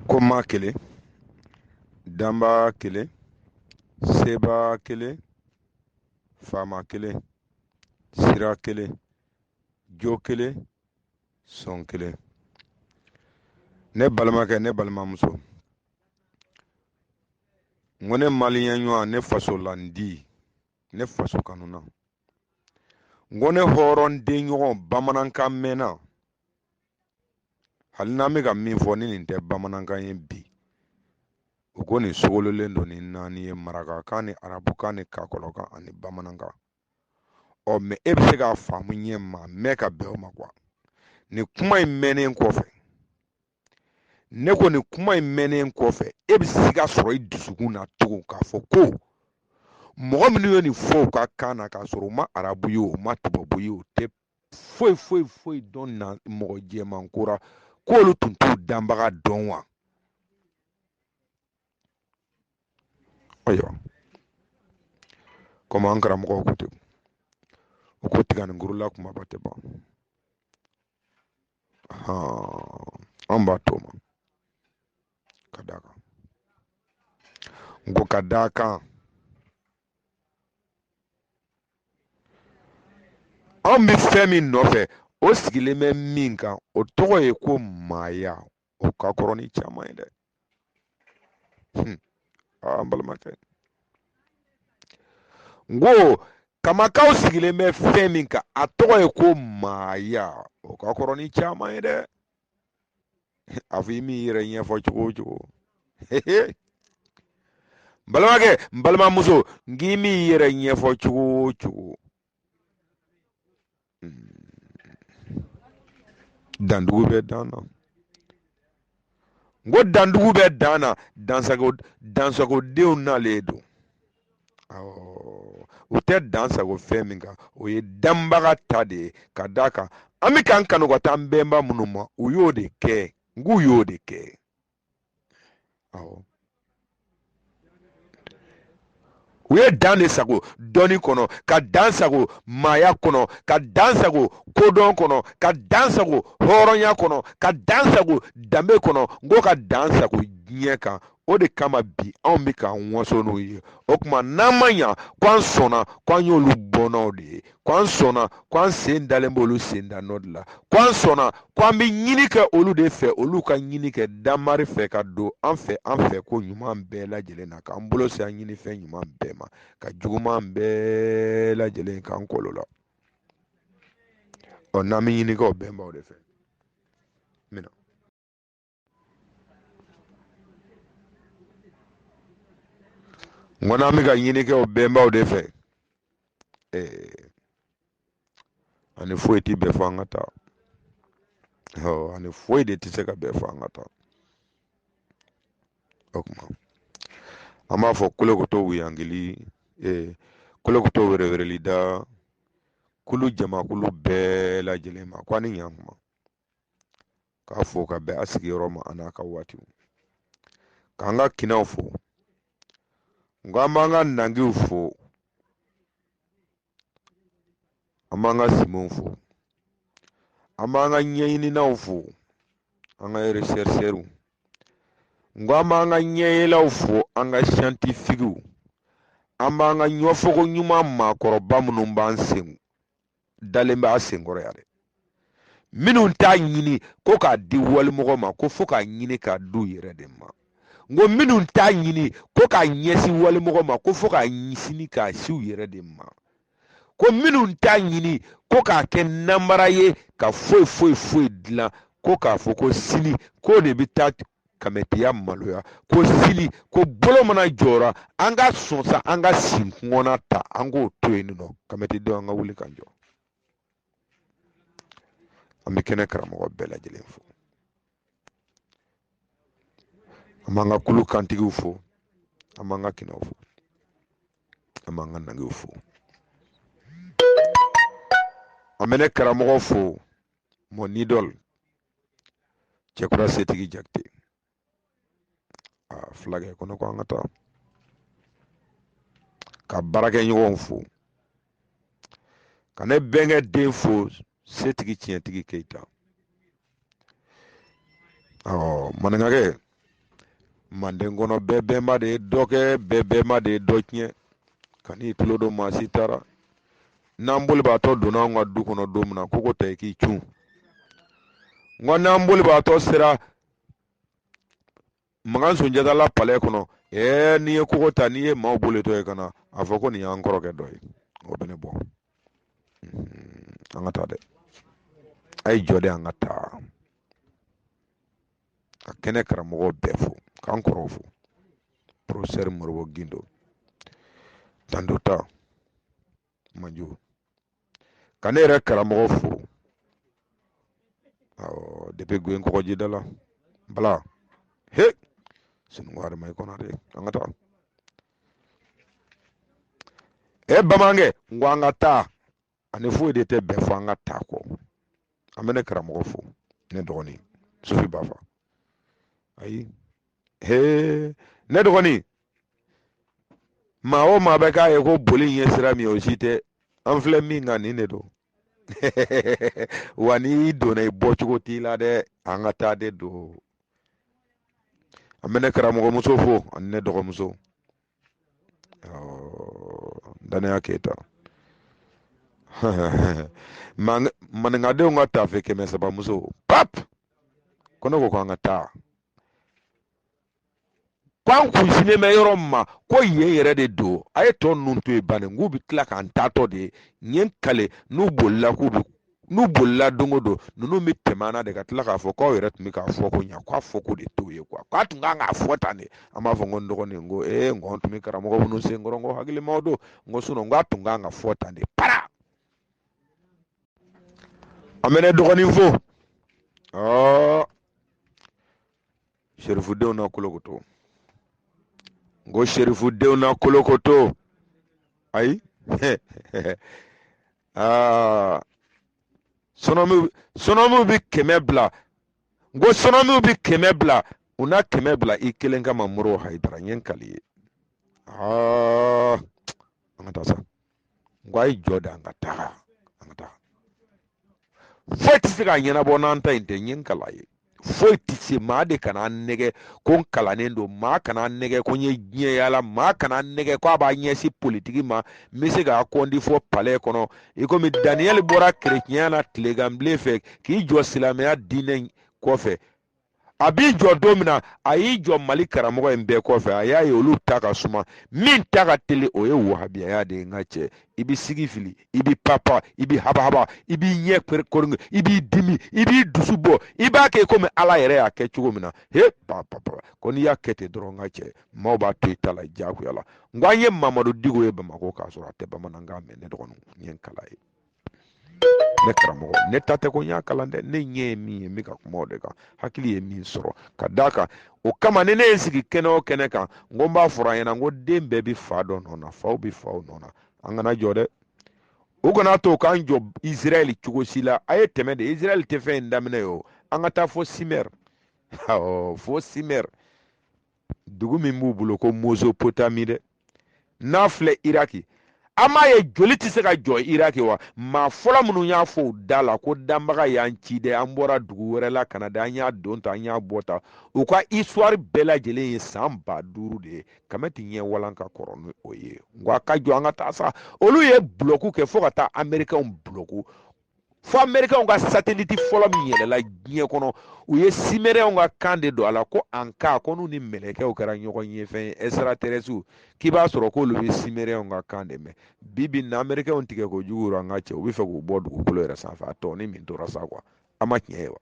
ko maa kelen danbaa kelen sebaa kelen faama kelen sira kelen jo kelen sɔn kelen ne balimakɛ ne balimamuso n ko ne maliyɛn ɲɔgɔn ne faso landi ne faso kanuna n ko ne hɔrɔnden ɲɔgɔn bamanankan mɛnna hali n'an bɛ ka min fɔ ni nin tɛ bamanankan ye bi u ko nin sogololen don ni naani ye marakakan ni arabukan ni kakɔlɔkan ani bamanankan ɔ mɛ e bɛ se k'a faamu ɲɛ ma mɛ ka bɛn o ma kuwa nin kuma in mɛnnen kɔfɛ ne ko nin kuma in mɛnnen kɔfɛ e bɛ se k'a sɔrɔ i dusukun na tugun k'a fɔ ko mɔgɔ minnu ye nin fɔ u ka kan na k'a sɔrɔ u ma arabu ye u ma tubabu ye u tɛ foyi foyi foyi dɔn na mɔgɔ jɛman ko ra k'olu tun t'u danbaga dɔn wa ayiwa komi an karamɔgɔw ko ten u ko tiganinkuru la kumaba tɛ ban an b'a to ma ka d'a kan n ko ka d'a kan anw bɛ fɛn min nɔfɛ o sigilen bɛ min kan o tɔgɔ ye ko maaya o ka kɔrɔ ni caman ye dɛ hmm. an balimakɛ n ko kamakaw sigilen bɛ fɛn min kan a tɔgɔ ye ko maaya o ka kɔrɔ ni caman ye dɛ a fɔ i m'i yɛrɛ ɲɛfɔ cogo o cogo n balimakɛ n balimamuso n k'i m'i yɛrɛ ɲɛfɔ cogo o cogo dandugu bɛ dan na n ko dandugu bɛ dan na dansagodenw nalen don u tɛ dan sago fɛn min kan o ye danbaga ta de ye ka d'a kan an bɛ k'an kanu ka taa an bɛnba minnu ma u y'o de kɛ n k'u y'o de kɛ awɔ u ye dan de sago dɔnni kɔnɔ ka dan sago maaya kɔnɔ ka dan sago kodɔn kɔnɔ ka dan sago hɔrɔnya kɔnɔ ka dan sago danbe kɔnɔ n ko ka dan sago diɲɛ kan o de kama bi anw bɛ k'an waso n'u ye o tuma n'an ma ɲa ko an sɔnna ko an y'olu bɔnnaw de ye ko an sɔnna ko an sen dalen b'olu sen da nɔ de la ko an sɔnna ko an bɛ ɲini kɛ olu de fɛ olu ka ɲini kɛ damari fɛ ka don an fɛ an fɛ ko ɲuman bɛɛ lajɛlen na k'an bolo se an ɲini fɛn ɲuman bɛɛ ma ka juguman bɛɛ lajɛlen k'an kɔlɔ la ɔ n'an bɛ ɲini kɛ o bɛnbaw de fɛ n ko n'an bɛ ka ɲini kɛ o bɛnbaw de fɛ eh, ani foyi tɛ bɛɛ fɔ an ka taa ɔ ani foyi de tɛ se ka bɛɛ fɔ an ka taa o tuma an b'a fɔ kolokoto wuyangili eh, kolokoto wɛrɛwɛrɛlida kulu jamakulu bɛɛ lajɛlen ma ko ani ɲankuma k'a fɔ ka bɛn a sigiyɔrɔ ma an'a ka waatiw k'an ka kinaw fo n ko an b'an ka nangiw fo an b'an ka simanw fo an b'an ka ɲɛɲininaw fo an ka rechercheurs n ko an b'an ka ɲɛyelaw fo an ka scientifiques an b'an ka ɲɔfogo ɲuman maakɔrɔba minnu b'an sen dalen b'a senkɔrɔ yan dɛ minnu t'a ɲini ko k'a di walimɔgɔ ma ko fo k'a ɲini k'a d'u yɛrɛ de ma n ko minnu t'a ɲini ko k'a ɲɛsin walimɔgɔ ma ko fo k'a ɲɛsin k'a sin u yɛrɛ de ma ko minnu t'a ɲini ko k'a kɛ namara ye ka foyi foyi foyi dilan ko k'a fɔ ko sini ko ne bɛ taa kamɛtiya maloya ko sini ko bolo mana jɔra an ka sɔn sa an ka sin kɔnɔna ta an k'o to yen nɔ kamɛtidenw an ka wuli ka jɔ an bɛ kɛnɛ karamɔgɔ bɛɛ lajɛlen fo an b'an ka kulu kantigiw fo an b'an ka kinaw fo an b'an ka nangiw fo an bɛ ne karamɔgɔ fo mon idole cɛkura setigi jakite a fulakɛ ko ne ko an ka taa ka baarakɛɲɔgɔnw fo ka ne bɛnkɛ den fo setigi tiɲɛtigi keyita ɔ maninkakɛ manden kɔnɔ bɛɛ bɛnba de ye dɔ kɛ bɛɛ bɛnba de ye dɔ tiɲɛ kan'i tulo don maa si taara n'an bolibaatɔ donna anw ka du kɔnɔ don min na kogo ta i k'i cun n ko n'an bolibaatɔ sera makan sunjata la palɛ kɔnɔ ɛɛ n'i ye kogo ta n'i ye maaw bolitɔ ye ka na a fɔ ko nin y'an kɔrɔkɛ dɔ ye o bɛ ne bɔ an ka taa dɛ a ye jɔ de an ka taa ka kɛnɛ karamɔgɔ bɛɛ fo k'an kɔrɔw fo professeur moribo gindo tandota manjo ka ne yɛrɛ karamɔgɔ fo awɔ depuis goyen kɔgɔjida la bala he sununkun adama i konate an ka taa e bamanankɛ n ko an ka taa ani foyi de tɛ bɛn fɔ an ka taa kɔ an bɛ ne karamɔgɔ fo ne dɔgɔnin sufi ba fa ayi hee ne dɔgɔnin maa o maa bɛ k'a ye ko boli in ye sira min ye o si tɛ an filɛ min kan nin de don wa n'i donna i bɔcogo t'i la dɛ an ka taa de don an bɛ ne karamɔgɔmuso fo ani ne dɔgɔmuso danaya keyita maninkadenw ka taafe kɛmɛ saba muso pap ko ne ko k'an ka taa ko an kun sinnen bɛ yɔrɔ min ma ko yen yɛrɛ de don a ye tɔ ninnu to yen bani k'u bɛ tila k'an taatɔ de ye n ye n kali n'u bolila k'u bɛ n'u bolila don o don ninnu bɛ tɛmɛ an na de ka tila k'a fɔ k'aw yɛrɛ tun bɛ k'a fɔ ko ɲa k'a fɔ ko de t'o ye kuwa k'a tun kan k'a fɔ tan de an b'a fɔ n ko n dɔgɔnin n ko ee n ko an tun bɛ karamɔgɔ minnu sen kɔrɔ n ko hakilimaw don n ko sinɔn n k'a tun kan ka fɔ tan de para an bɛ ne dɔgɔnin fo ɔɔ serifudenw na kolokoto n ko serifudenw na kolokoto ayi aa sɔnɔmu sɔnɔmu bi kɛmɛ bila n ko sɔnɔmu bi kɛmɛ bila u na kɛmɛ bila i kelen kama moriw hayidara n ye n kali ye aa an ka taa sa n ko a ye jɔ de an ka taa an ka taa foyi tɛ se k'a ɲɛnabɔ n'an taa in tɛ n ye n kal'a ye foyi tɛ se maa de kana nɛgɛ ko n kalannen don maa kana nɛgɛ ko n ye diɲɛ yaala maa kana nɛgɛ ko a b'a ɲɛsin politiki ma n bɛ se k'a kɔndi fɔ palɛ kɔnɔ i komi daniyɛli bɔra kerecɛnya na tileganbilen fɛ k'i jɔ silamɛya diinɛ kɔfɛ a b'i jɔ don min na a y'i jɔ mali karamɔgɔ in bɛɛ kɔfɛ a y'a ye olu ta ka suma min ta ka teli o ye wahabiyaya de ye n ka cɛ i b'i sigi fili i b'i papa i b'i habahaba i b'i ɲɛ kɔrɔnge i b'i dimi i b'i dusu bɔ i b'a kɛ komi ala yɛrɛ y'a kɛ cogo min na he papa ko n'i y'a kɛ ten dɔrɔn n ka cɛ maaw b'a to i ta la jagoya la n ko an ye mamadu digo ye bamakɔ k'a sɔrɔ a tɛ bamanankan mɛn ne dɔgɔninw n ye n kal'a ye ne karamɔgɔ ne ta tɛ ko n y'a kalan dɛ ne ɲɛ ye min ye n bɛ ka kuma o de kan hakili ye min sɔrɔ ka d'a kan o kama ni ne ye n sigi kɛnɛ o kɛnɛ kan n ko n b'a fɔra an ɲɛna n ko den bɛɛ bɛ fa dɔ nɔ na faw bɛ faw nɔ na an kana jɔ dɛ u kan'a to k'an jɔ israɛl cogo si la a ye tɛmɛ de israɛl tɛ fɛn in daminɛ ye o an ka taa fo simɛr awɔ fo simɛr dugu min b'u bolo ko mozopotami dɛ n'a filɛ iraki a m'a ye joli tɛ se ka jɔ iraki wa maa fɔlɔ minnu y'a fɔ u da la ko danbaga y'an ci dɛ an bɔra dugu wɛrɛ la ka na dɛ an y'a don ta an y'a bɔ ta u ka isituwari bɛɛ lajɛlen ye san ba duuru de ye kame tɛ ɲɛ walan ka kɔrɔ ni o ye n ko a ka jɔ an ka taa sa olu ye bulɔku kɛ fo ka taa amerikɛnw bulɔku fo amerikɛnw ka sateliti fɔlɔ min yɛlɛla diɲɛ kɔnɔ u ye simerɛnw ka kan de don a la ko an ka ko n'u ni mɛlɛkɛw kɛra ɲɔgɔn ye fɛn ɛsiraterɛsiw k'i b'a sɔrɔ k'olu bɛ simerɛnw ka kan de mɛn bi bi na amerikɛnw tigɛ kojugu an ka cɛ u bɛ fɛ k'u bɔ dugukolo yɛrɛ sanfɛ a tɔnin min tora sa kuwa a ma tiɲɛ ye wa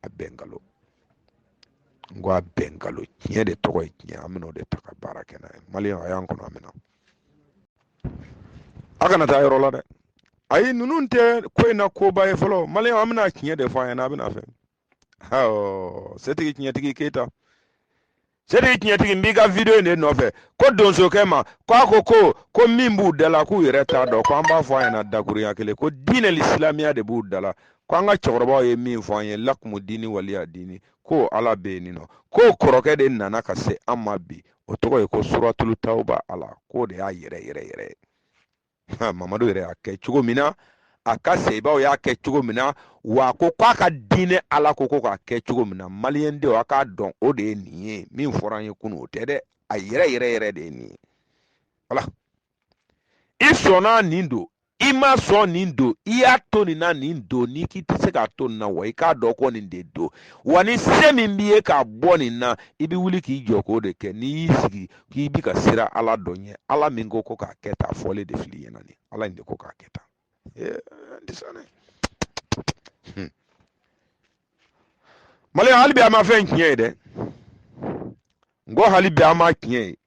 a bɛɛ nkalon n ko a bɛɛ nkalon tiɲɛ de tɔgɔ ye tiɲɛ an bɛn'o de ta ka baara kɛ n'a ye maliyɛn a y'an kɔnɔ an bɛna a kana taa yɔrɔ la dɛ ayi ninnu tɛ ko in na koba ye fɔlɔ maliyɛn an bɛna tiɲɛ de fɔ a ɲɛna a bɛna fɛn setigi tiɲɛtigi keyita setigi tiɲɛtigi n b'i ka video in de nɔfɛ ko donsokɛ ma ko a ko ko ko min b'u da la k'u yɛrɛ t'a dɔn ko an b'a fɔ a ɲɛna dakurunya kelen ko diinɛ silamɛya de b'u da la ko an ka cɛkɔrɔbaw ye min fɔ an ye lakumu diini waliya diini ko ala bɛ yen nɔ ko kɔrɔkɛ de nana ka se an ma bi o tɔgɔ ye ko suratulu tawuba ala k'o de y'a yɛrɛ yɛrɛ yɛrɛ ye mamadu yɛrɛ y'a kɛ cogo min na a ka sahabaw y'a kɛ cogo min na wa ko k'a ka diinɛ ala ko ko k'a kɛ cogo min na maliyɛndenw a k'a dɔn o de ye nin ye min fɔra an ye kunun o tɛ dɛ a yɛrɛ yɛrɛ yɛrɛ de ye nin ye wala i sɔnna nin don i ma sɔn nin don i y'a to nin na nin don n'i k'i tɛ se k'a to nin na wa i k'a dɔn ko nin de don wa ni se min b'i ye k'a bɔ nin na i bɛ wuli k'i jɔ k'o de kɛ n'i y'i sigi k'i bi ka siran ala dɔ ɲɛ ala min ko ko k'a kɛ tan a fɔlen de fil'i ɲɛna nin ala in de ko k'a kɛ tan maliyɛn hali bi a ma fɛn tiɲɛ ye dɛ n ko hali bi a ma tiɲɛ ye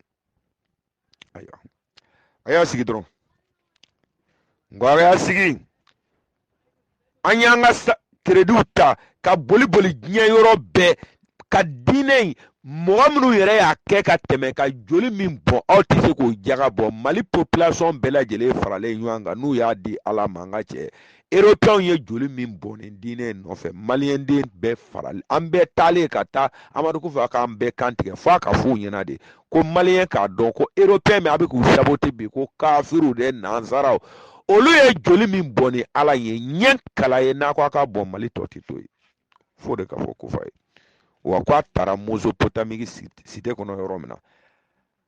ayiwa a y'a sigi dɔrɔn n ko a y'a sigi an y'an ka kerediw ta ka boli boli diɲɛ yɔrɔ bɛɛ ka diinɛ in mɔgɔ minnu yɛrɛ y'a kɛ ka tɛmɛ ka joli min bɔn aw tɛ se k'o jaga bɔ mali population bɛɛ lajɛlen faralen ɲɔgɔn kan n'u y'a di ala ma an ka cɛ eropɛnw ye joli min bɔn nin diinɛ in nɔfɛ maliyɛnden bɛɛ faralen an bɛɛ taalen ka taa amadu kufa k'an bɛɛ kantigɛ f'a k'a f'u ɲɛna de ko maliyɛn k'a dɔn ko eropɛn min a bɛ k'u sabote bi ko kafiriw de nansaraw olu ye joli min bɔn ni ala ye ɲɛ kala ye n'a ko a ka bɔn mali tɔ tɛ to yen fo de ka fɔ kufa ye wa ko a taara mozopotamiki site kɔnɔ yɔrɔ min na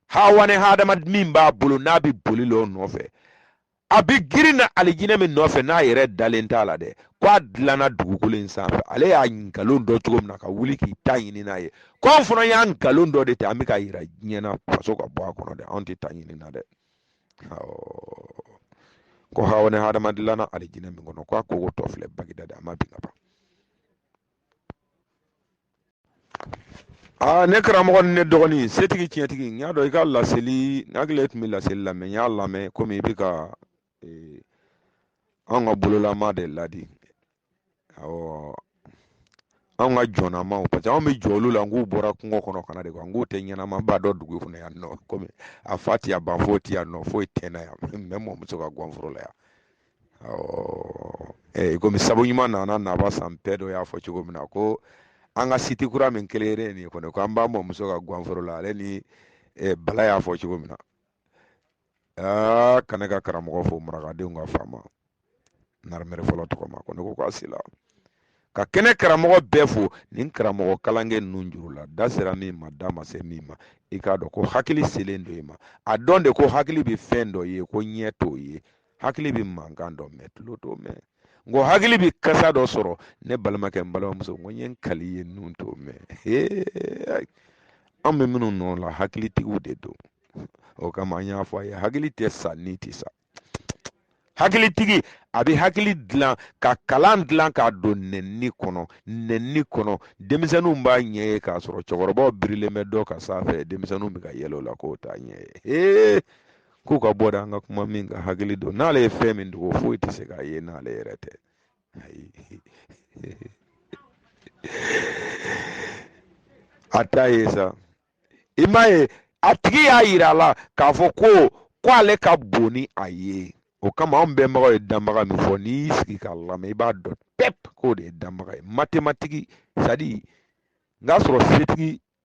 hawa ni hadama min b'a bolo n'a bɛ boli l'o nɔfɛ a bɛ girin na alijinɛ min nɔfɛ n'a yɛrɛ dalen t'a la dɛ ko a dilanna dugukolo in sanfɛ ale y'a nkalon dɔ cogo min na ka wuli k'i ta ɲini n'a ye ko anw fana y'a nkalon dɔ de ta an bɛ k'a yira diɲɛ na faso ka bɔ a kɔnɔ dɛ anw tɛ ta ɲini na dɛ ko hawa ni hadama dilanna alijinɛ min kɔnɔ ko a kogo tɔ filɛ bagidadi a ma bin ka ban aa ne karamɔgɔ ni ne dɔgɔnin setigi tiɲɛtigi n y'a dɔn i ka laseli n hakili tun bɛ laseli lamɛn n y'a lamɛn komi i bɛ ka eh, anw ka bololama de ladi awɔ anw ka jɔnnamaw parce que anw bɛ jɔ olu la n k'u bɔra kungo kɔnɔ ka na de kuwa n k'u tɛ ɲɛnamaba dɔn dugu kɔnɔ yan nɔ komi a fa ti yan ban foyi ti yan nɔ foyi tɛ na yan mɛ mɔmuso ka guwanforo la yan ɔ komi sabu ɲuman nana naba san bɛɛ dɔ y'a fɔ cogo min na ko an ka siti kura min kelen nin kɔni ko an b'a mɔmuso ka guwanforo la ale ni bala y'a fɔ cogo min na aa ka ne ka karamɔgɔ fo marakadenw ka faama narimere fɔlɔ tɔgɔ ma ko ne ko k'a sila ka kɛnɛ karamɔgɔ bɛɛ fo nin karamɔgɔ kalankɛ ninnu juru la da sera min ma da ma se min ma i k'a dɔn ko hakili selen don i ma a dɔn de ko hakili bɛ fɛn dɔ ye ko ɲɛ t'o ye hakili bɛ mankan dɔ mɛn tulo t'o mɛn n ko hakili bɛ kasa dɔ sɔrɔ ne balimakɛ n balimamuso n ko n ye n kal'i ye nun t'o mɛn an bɛ minnu nɔ la hakilitigiw de don o kama an y'a fɔ a ye hakili tɛ sa ni tɛ sa hakilitigi a bɛ hakili dilan ka kalan dilan k'a don nɛnni kɔnɔ nɛnni kɔnɔ denmisɛnninw b'a ɲɛ ye k'a sɔrɔ cɛkɔrɔbaw birilen bɛ dɔ ka sanfɛ denmisɛnninw bɛ ka yɛlɛ o la k'o t'a ɲɛ ye k'u ka bɔ de an ka kuma min ka hakili don n'ale ye fɛn min dogo foyi tɛ se k'a ye n'ale yɛrɛ tɛ ayi a t'a ye sa i m'a ye a tigi y'a yira a la k'a fɔ ko ko ale ka bon ni a ye o kama anw bɛnbagaw ye danbaga min fɔ n'i y'i sigi k'a lamɛn i b'a dɔn pep k'o de ye danbaga ye matematiki sadi n k'a sɔrɔ setigi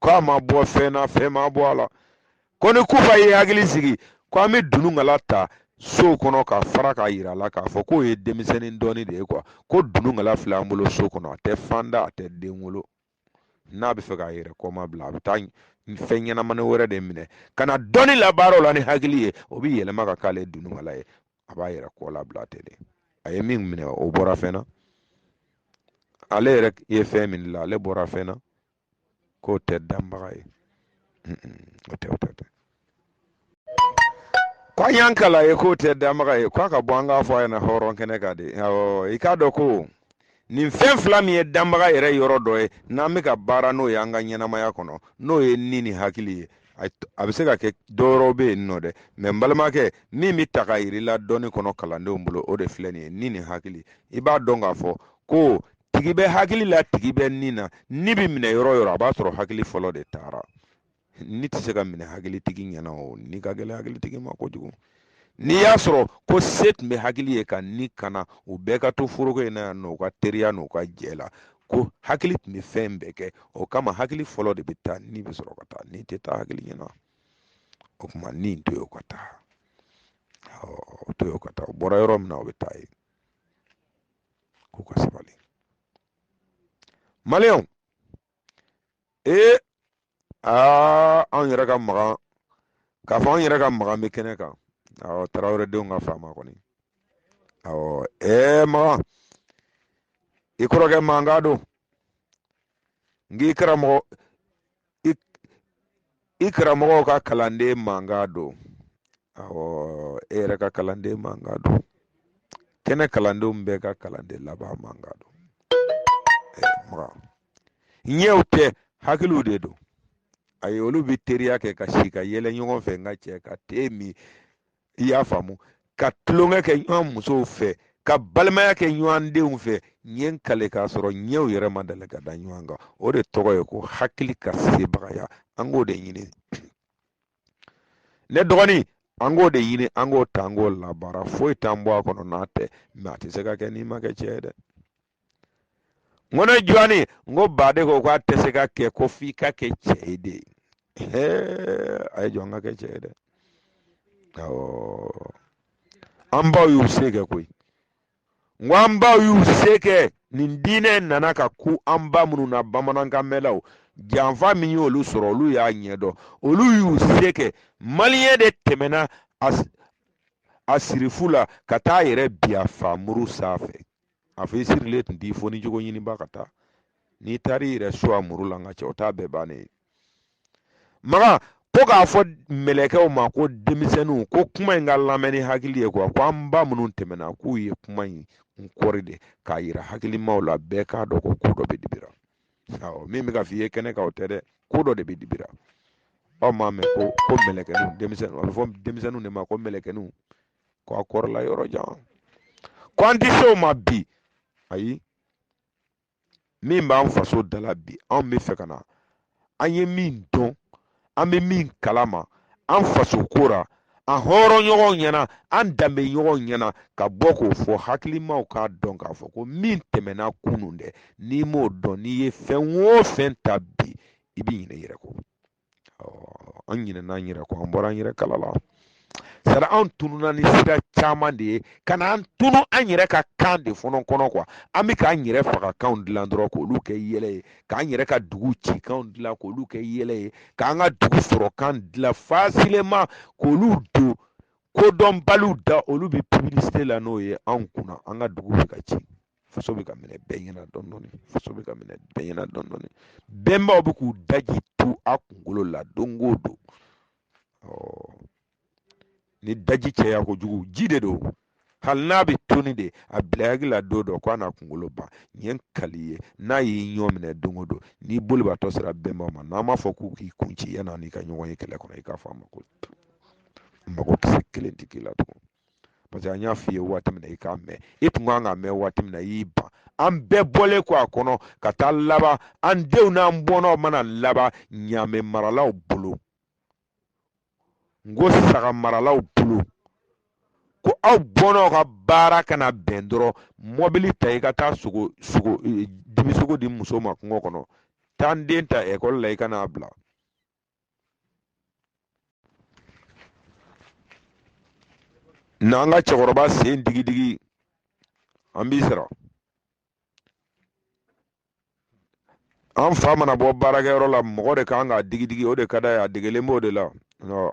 ko a ma bɔ fɛn na fɛn ma bɔ a la ko ni kufa ye hakili sigi ko an bɛ dunungala ta sow kɔnɔ ka fara k'a yira a la k'a fɔ k'o ye denmisɛnnin dɔnni de ye kuwa ko dunungala filɛ an bolo so kɔnɔ a tɛ fan da a tɛ den wolo n'a b'a fɛ k'a yɛrɛ kɔma bila a bɛ taa fɛn ɲɛnamani wɛrɛ de minɛ ka na dɔnni labaara o la ni hakili ye o bɛ yɛlɛma ka k'ale dunungala ye a b'a yɛrɛ kɔ labila ten de a ye min minɛ o bɔra fɛn na ale yɛrɛ ye fɛn min la ale bɔra fɛn na k'o tɛ danbaga ye o tɛ o tɛ tɛ ko an y'an kal'a ye k'o tɛ danbaga ye k'a ka bɔ an k'a fɔ a ɲɛna hɔrɔn kɛnɛ kan de i k'a dɔn ko nin fɛn fila min ye danbaga yɛrɛ yɔrɔ dɔ ye n'an bɛ ka baara n'o ye an ka ɲɛnamaya kɔnɔ n'o ye ni ni hakili ye a bɛ se ka kɛ dɔwɛrɛw bɛ yen nɔ dɛ mɛ n balimakɛ min bɛ ta ka yir'i la dɔnni kɔnɔ kalandenw bolo o de filɛ nin ye ni ni hakili i b'a dɔn k'a fɔ ko tigi bɛ hakili la tigi bɛ ni na ni bɛ minɛ yɔrɔ o yɔrɔ a b'a sɔrɔ hakili fɔlɔ de taara ni tɛ se ka minɛ hakilitigi ɲɛna o ni ka gɛlɛn hakilitigi ma kojugu n'i y'a sɔrɔ ko se tun bɛ hakili ye ka ni kana u bɛɛ ka to foroko in na yan nɔ u ka teriya n'u ka jɛ la ko hakili tun bɛ fɛn bɛɛ kɛ o kama hakili fɔlɔ de bɛ taa ni bɛ sɔrɔ ka taa ni tɛ taa hakili ɲɛna o tuma ni to yen o ka taa o to yen o ka taa o bɔra yɔrɔ min na o bɛ taa yen k'u ka sabali maliyɛnw ee aa anw yɛrɛ ka magan k'a fɔ anw yɛrɛ ka magan bɛ kɛnɛ kan awɔ tarawele denw ka faama kɔni awɔ ɛɛ magan i kɔrɔkɛ mankan don n k'i karamɔgɔ i karamɔgɔw ka kalanden mankan don awɔ e yɛrɛ ka kalanden mankan don kɛnɛ kalandenw bɛɛ ka kalanden laban mankan don magan ɲɛw tɛ hakiliw de don a ye olu bɛ teriya kɛ ka si ka yɛlɛ ɲɔgɔn fɛ n ka cɛ ka te min i y'a faamu ka tulonkɛ kɛ ɲɔgɔn musow fɛ ka balimaya kɛ ɲɔgɔn denw fɛ ɲɛ n kale k'a sɔrɔ ɲɛw yɛrɛ ma deli ka da ɲɔgɔn kan o de tɔgɔ ye ko hakili ka sebagaya an k'o de ɲini ne dɔgɔnin an k'o de ɲini an k'o ta an k'o labaara foyi t'an bɔ a kɔnɔ n'a tɛ mɛ a tɛ se ka kɛ n'i ma kɛ cɛ ye dɛ n ko ne jɔni n ko baden ko k'a tɛ se ka kɛ ko f'i ka kɛ cɛ ye de a ye jɔn ka kɛ cɛ ye dɛ awɔ an baw y'u se kɛ koyi n ko an baw y'u se kɛ nin diinɛ nana ka kun an ba minnu na bamanankan mɛnlaw janfa min y'olu sɔrɔ olu y'a ɲɛdɔn olu y'u se kɛ maliyɛn de tɛmɛna a sirifu la ka taa yɛrɛ bin a faamuru sanfɛ a fɔ i sirilen tun t'i fɔ ni jogo ɲiniba ka taa n'i taar'i yɛrɛ so a muru la nka cɛ o t'a bɛɛ bannen ye magan ko k'a fɔ mɛlɛkɛw ma ko denmisɛnninw ko kuma in ka lamɛn ni hakili ye kuwa ko an ba minnu tɛmɛna k'u ye kuma in kɔri de k'a yira hakilimaw la bɛɛ k'a dɔn ko ko dɔ bɛ dibi ra awɔ min bɛ ka f'i ye kɛnɛ kan o tɛ dɛ ko dɔ de bɛ dibi ra aw m'a mɛn ko ko mɛlɛkɛninw denmisɛnninw a bɛ fɔ denmisɛnninw de ma ko mɛlɛkɛninw ko a kɔrɔla yɔrɔ jan ko an tɛ se o ma bi ayi min b'an faso dala bi anw bɛ fɛ ka na an ye min dɔn an bɛ min kalama an faso ko ra an hɔrɔn ɲɔgɔn ɲɛna an danbe ɲɔgɔn ɲɛna ka bɔ k'o fɔ hakilimaw k'a dɔn k'a fɔ ko min tɛmɛna kunun dɛ n'i m'o dɔn n'i ye fɛn o fɛn ta bi i b'i ɲinɛ i yɛrɛ kɔ an ɲinɛna an yɛrɛ kɔ an bɔra an yɛrɛ kala la sara an tununa ni sira caman de ye ka na an tunu an yɛrɛ ka kan de fɔlɔ kɔnɔ kuwa an bɛ k'an yɛrɛ faga kanw dilan dɔrɔn k'olu kɛ yɛlɛ ye k'an yɛrɛ ka dugu ci kanw dilan k'olu kɛ yɛlɛ ye k'an ka dugu sɔrɔ kan dilan facilement k'olu don kodɔnbaliw da olu bɛ publicité la n'o ye anw kunna an ka dugu bɛ ka ci faso bɛ ka minɛ bɛɛ ɲɛna dɔɔni dɔɔni faso bɛ ka minɛ bɛɛ ɲɛna dɔɔni dɔɔni bɛnbaw bɛ k'u daji tu a kunkolo la don o don ni daji caya kojugu ji de don hali n'a bɛ toni de a bila hakili la don dɔ k'a n'a kunkolo ban n ye kali ye n'a ye ɲɔgɔn minɛ don o don n'i bolibaatɔ sera bɛnbaw ma n'an m'a fɔ k'u k'i kun ci yan'a n'i ka ɲɔgɔn ye kɛlɛ kɔnɔ i k'a fɔ a ma ko mako kisɛ kelen tɛ k'i la tugun parce que an y'a f'i ye waati min na i k'a mɛn i tun kan k'a mɛn waati min na i y'i ban an bɛɛ bɔlen kɔ a kɔnɔ ka taa laban an denw n'an bɔnnaw mana laban ɲaamɛ maralaw bolo n ko saga maralaw bolo ko aw bɔnnaw ka baara kana bɛn dɔrɔn mɔbili ta i ka taa sogo sogo e, dibi sogo di muso ma kungo kɔnɔ taa n den ta ekɔli la i ka n'a bila n'an ka cɛkɔrɔba sen digidigi an b'i sara an fa mana bɔ baarakɛyɔrɔ la mɔgɔ de kan k'a digidigi o de ka d'a ye a degelen b'o de la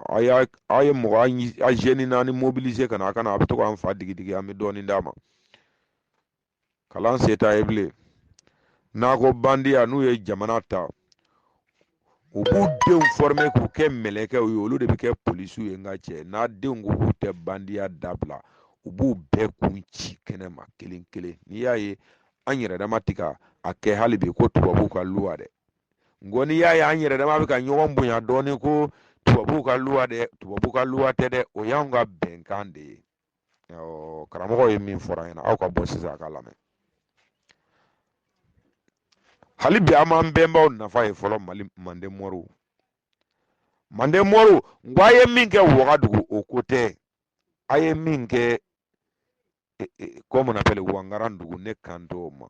a y'a a ye mɔgɔ a jeune naani mobiliser ka na a ka na a bɛ to k'an fa digidigi an bɛ dɔɔnin d'a ma kalan se t'a ye bilen n'a ko bandiya n'u ye jamana ta u b'u denw former k'u kɛ mɛlɛkɛw ye olu de bɛ kɛ polisiw ye nka cɛ n'a denw ko k'u tɛ bandiya dabila u b'u bɛɛ kun ci kɛnɛ ma kelen kelen n'i y'a ye an yɛrɛ dama ti ka a kɛ hali bi ko tubabuw ka luwa dɛ nko n'i y'a ye an yɛrɛ dama bɛ ka ɲɔgɔn bonya dɔɔnin ko tubabuw ka luwa dɛ tubabuw ka luwa tɛ dɛ o y'anw ka bɛnkan de ye karamɔgɔ ye min fɔra ɲɛna aw ka bɔ sisan a ka lamɛn hali bi an m'an bɛnbaw nafa ye fɔlɔ mali manden mɔriw manden mɔriw n ko a ye min kɛ wagadugu o ko tɛ a ye min kɛ e, e, comment on appelle wangaran dugu ne kan t'o ma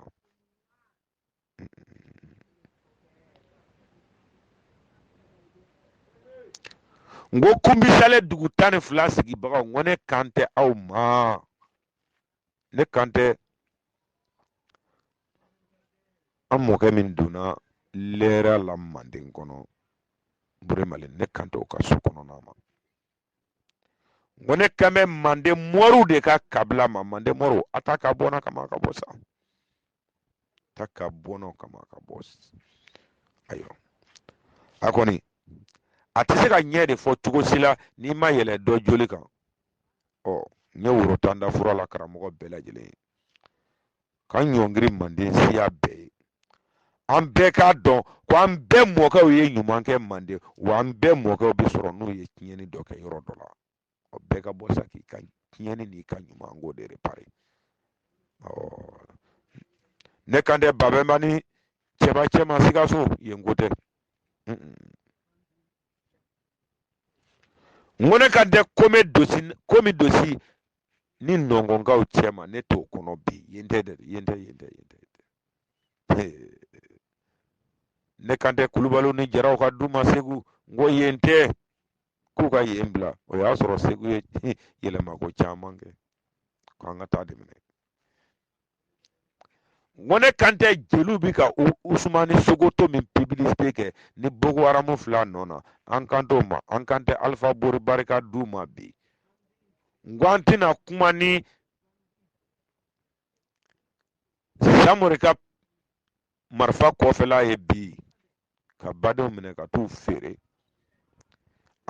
n ko kunbisale dugu tan ni fila sigibagaw n ko ne kan tɛ aw ma ne kan tɛ an mɔkɛ min donna lɛra la manden kɔnɔ buremalen ne kan tɛ o ka so kɔnɔna ma n ko ne kan bɛ manden mɔriw de ka kabila ma manden mɔriw a ta ka bɔ na kama ka bɔ sa ta ka bɔ n'o kama ka bɔ ayiwa a kɔni a tɛ se ka ɲɛ de fɔ cogo si la n'i ma yɛlɛ dɔ joli kan ɔ n ye woro tan da fura la karamɔgɔ bɛɛ lajɛlen ye ka ɲɔngiri manden siya bɛɛ ye an bɛɛ k'a dɔn ko an bɛɛ mɔkɛw ye ɲuman kɛ manden wa an bɛɛ mɔkɛw bɛ sɔrɔ n'u ye tiɲɛni dɔ kɛ yɔrɔ dɔ la o bɛɛ ka bɔ sa k'i ka tiɲɛni n'i ka ɲuman ko de repare ne kan tɛ babɛnba ni cɛba cɛma sikaso yen ko tɛ n ko ne kan tɛ kome dosi komi dosi ni nɔnkɔnkaw cɛma ne t'o kɔnɔ bi yen tɛ dɛ yen tɛ yen tɛ yen tɛ ne kan tɛ kulubaliw ni jaraw ka du ma segu n ko yen tɛ k'u ka yen bila o y'a sɔrɔ segu ye yɛlɛma ko caman kɛ k'an ka taa dɛmɛ ko ne kan tɛ jeliw bi ka usumani sokoto min pibilisite kɛ ni boko haramu fila nɔ na an kan t'o ma an kan tɛ alifa bori bari ka du ma bi n ko an tɛna kuma ni samori ka marifa kɔfɛla ye bi ka badenw minɛ ka t'u feere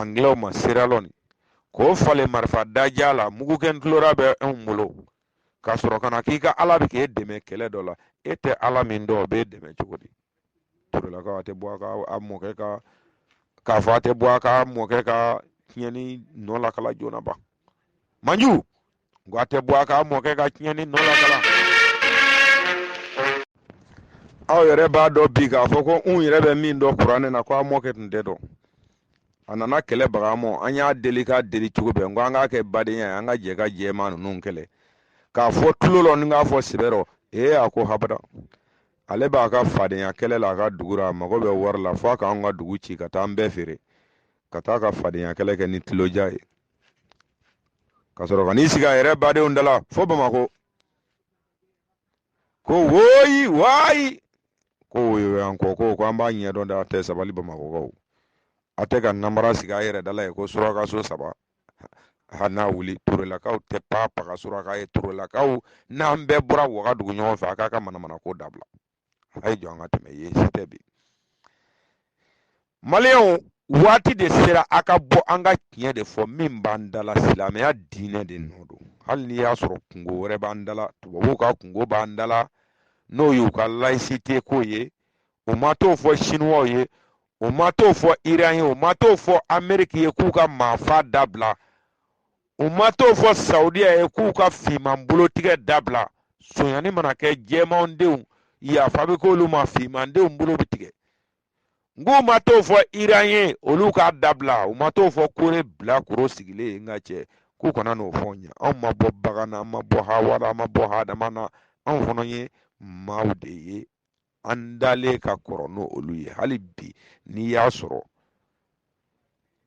angilɛw ma seralɔni k'o falen marifa daja la mugukɛ ntulora bɛ anw bolo ka sɔrɔ ka na k'i ka ala bɛ k'e dɛmɛ kɛlɛ dɔ la e tɛ ala min dɔn o b'e dɛmɛ cogo di torolakaw a tɛ bɔ a ka a mɔkɛ ka k'a fɔ a tɛ bɔ a ka mɔkɛ ka tiɲɛni nɔ lakala joona ban manju n ko a tɛ bɔ a ka mɔkɛ ka tiɲɛni nɔ lakala aw yɛrɛ b'a dɔn bi k'a fɔ ko n yɛrɛ bɛ min dɔn kuranɛ na ko a mɔkɛ tun tɛ dɔn a nana kɛlɛ baga mɔ an y'a deli k'a deli cogo bɛɛ n ko an k'a kɛ badenya ye an ka jɛ ka jɛman ninnu kɛlɛ k'a fɔ tulon rɔ ni k'a fɔ sɛbɛ rɔ ee a ko habada ale b'a ka fadenya kɛlɛ la a ka dugu ra a mago bɛ wari la fo a k'an ka dugu ci ka taa an bɛɛ feere ka taa ka fadenya kɛlɛ kɛ ni tuloja ye ka sɔrɔ ka n'i sigi a yɛrɛ badenw da la fo bamakɔ ko woyi wayi ko woyowayankɔ ko ko an b'a ɲɛdɔn dɛ a tɛ sabali bamakɔkaw a tɛ ka namara sigi a yɛrɛ da la yen ko suraka so saba ha n'a wuli torolakaw tɛ pa paga suraka ye torolakaw n'an bɛɛ bɔra wagadugu ɲɔgɔn fɛ a k'a ka manamana ko dabila a ye jɔ an ka tɛmɛ yen si tɛ bi maliyɛnw waati de sera a ka bɔ an ka tiɲɛ de fɔ min b'an dala silamɛya diinɛ de nɔ don hali n'i y'a sɔrɔ kunko wɛrɛ b'an dala tubabuw ka kunko b'an dala n'o y'u ka laïcité ko ye u ma t'o fɔ sinuwaw ye u ma t'o fɔ iran ye u ma t'o fɔ ameriki ye k'u ka maafa dabila u ma t'o fɔ saudiya ye k'u ka finman bolotigɛ dabila sonyani mana kɛ jɛmanw denw yafa bɛ k'olu ma finman denw bolo bɛ tigɛ nk'u ma t'o fɔ iran ye olu k'a dabila u ma t'o fɔ kore bilakoro sigilen ye n ka cɛ k'u kana n'o fɔ n ye anw ma bɔ bagan na an ma bɔ hawa la an ma bɔ hadama na anw fana ye maaw de ye an dalen ka kɔrɔ n'olu ye hali bi n'i y'a sɔrɔ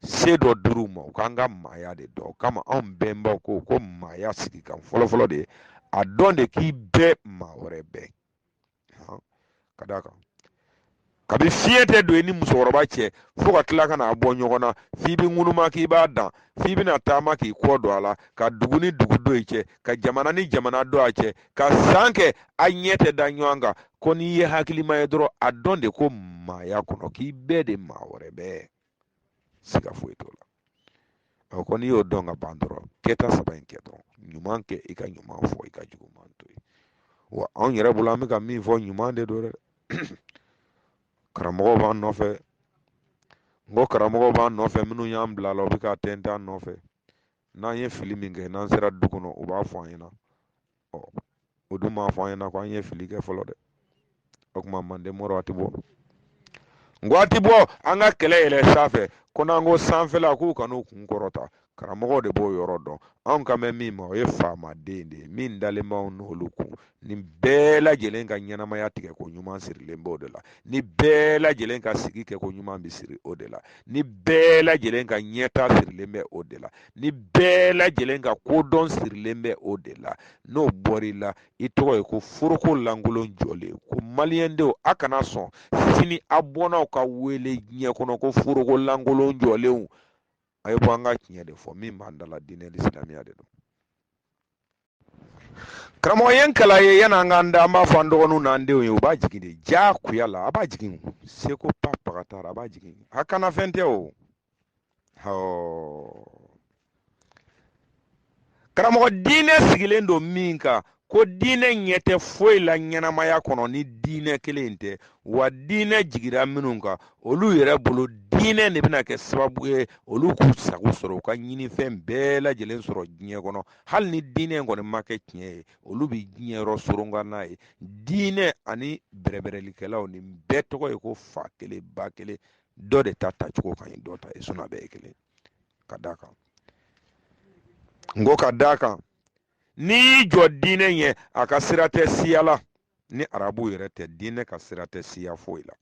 se dɔ dir'u ma u k'an ka maaya de dɔn o kama anw bɛnbaw ko ko maaya sigikan fɔlɔfɔlɔ de a dɔn de k'i bɛ maa wɛrɛ bɛ ka d'a kan kabi fiɲɛ tɛ don i ni musokɔrɔba cɛ fo ka tila ka n'a bɔ ɲɔgɔn na f'i bɛ ŋunuma k'i ba dan f'i bɛna taama k'i kɔ don a la ka dugu ni dugu don i cɛ ka jamana ni jamana don a cɛ ka san kɛ a ɲɛ tɛ da ɲɔgɔn kan ko n'i ye hakilima ye dɔrɔn a dɔn de ko maaya kɔnɔ k'i bɛ de maa wɛrɛ bɛ siga foyi t'o la ɔ ko n'i y'o dɔn ka ban dɔrɔn kɛta saba in kɛ dɔrɔn ɲuman kɛ i ka ɲuman fɔ i ka juguman to yen wa anw yɛrɛ bolo an bɛ ka min fɔ ɲuman de don dɛ karamɔgɔw b'an nɔfɛ n ko karamɔgɔw b'an nɔfɛ minnu y'an bil'a la u bɛ ka tɛntɛn an nɔfɛ n'an ye fili min kɛ n'an sera du kɔnɔ u b'a fɔ an ɲɛna ɔ u dun m'a fɔ an ɲɛna ko an ye fili kɛ fɔlɔ dɛ o tuma manden mɔrɔ a tɛ bɔ n ko a tɛ bɔ an ka kɛlɛ yɛlɛ sanfɛ ko n'an ko sanfɛla k'u kan'u kun kɔrɔta karamɔgɔ de b'o yɔrɔ dɔn anw kan bɛ min ma o ye faama de ye dɛ min dalen b'anw n'olu kun ni bɛɛ lajɛlen ka ɲɛnamaya tigɛ ko ɲuman sirilen b'o de la ni bɛɛ lajɛlen ka sigi kɛ ko ɲuman bɛ siri o de la ni bɛɛ lajɛlen ka ɲɛta sirilen bɛ o de la ni bɛɛ lajɛlen ka kodɔn sirilen bɛ o de la n'o bɔr'i la i tɔgɔ ye ko foroko lankolon jɔlen ko maliyɛndenw a kana sɔn sini a bɔnnaw ka wele diɲɛ kɔnɔ ko foroko lankolon jɔlenw a ye bɔ an ka tiɲɛ de fɔ min b'an da la diinɛ ni silamɛya de don karamɔgɔ ye kala ye yan'an k'an da an b'a fɔ an dɔgɔninw n'an denw ye u b'a jigin de diyagoya la a b'a jigin seko pa pagatara a b'a jigin a kana fɛn tɛ o karamɔgɔ diinɛ sigilen don min kan ko diinɛ ɲɛ tɛ foyi la ɲɛnamaya kɔnɔ ni diinɛ kelen tɛ wa diinɛ jigira minnu kan olu yɛrɛ bolo diinɛ de bɛna kɛ sababu ye olu k'u sago sɔrɔ u ka ɲinifɛn bɛɛ lajɛlen sɔrɔ diɲɛ kɔnɔ hali ni diinɛ in kɔni ma kɛ tiɲɛ ye olu bɛ diɲɛ yɔrɔ sɔrɔ nka n'a ye diinɛ ani bɛrɛbɛrɛlikɛlaw nin bɛɛ tɔgɔ ye ko fa kelen ba kelen dɔ de ta tacogo ka ɲi dɔ ta ye sinɔ a bɛɛ ye kelen ka d'a kan n ko ka d'a kan n'i y'i jɔ diinɛ ɲɛ a ka sira tɛ siya la ni arabu yɛrɛ tɛ diinɛ ka sira tɛ siya foyi la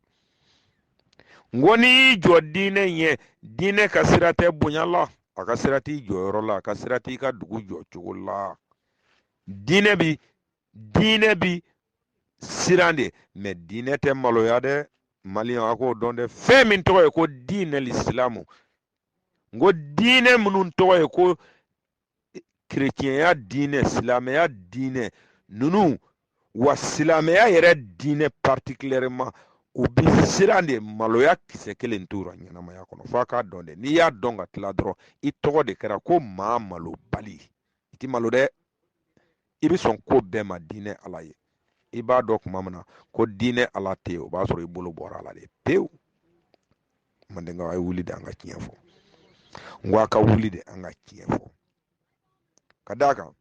n ko n'i y'i jɔ diinɛ ɲɛ diinɛ ka sira tɛ bonya la a ka sira t'i jɔyɔrɔ la a ka sira t'i ka dugu jɔ cogo la diinɛ bi diinɛ bi siran de mɛ diinɛ tɛ maloya dɛ maliyɛn a k'o dɔn dɛ fɛn min tɔgɔ ye ko diinɛ lisilamu n ko diinɛ minnu tɔgɔ ye ko kerecɛnya diinɛ silamɛya diinɛ ninnu wa silamɛya yɛrɛ diinɛ particulièrement u bi siran de maloya kisɛ kelen t'u ra ɲɛnamaya kɔnɔ f'a k'a dɔn dɛ n'i y'a dɔn ka tila dɔrɔn i tɔgɔ de kɛra ko maa malobali i ti malo dɛ i bɛ sɔn ko bɛɛ ma diinɛ ala ye i b'a dɔn tuma min na ko diinɛ ala tɛ yen o b'a sɔrɔ i bolo bɔra ala de pewu mandenkaw a ye wuli de an ka tiɲɛ fɔ n ko a ka wuli de an ka tiɲɛ fɔ ka d'a kan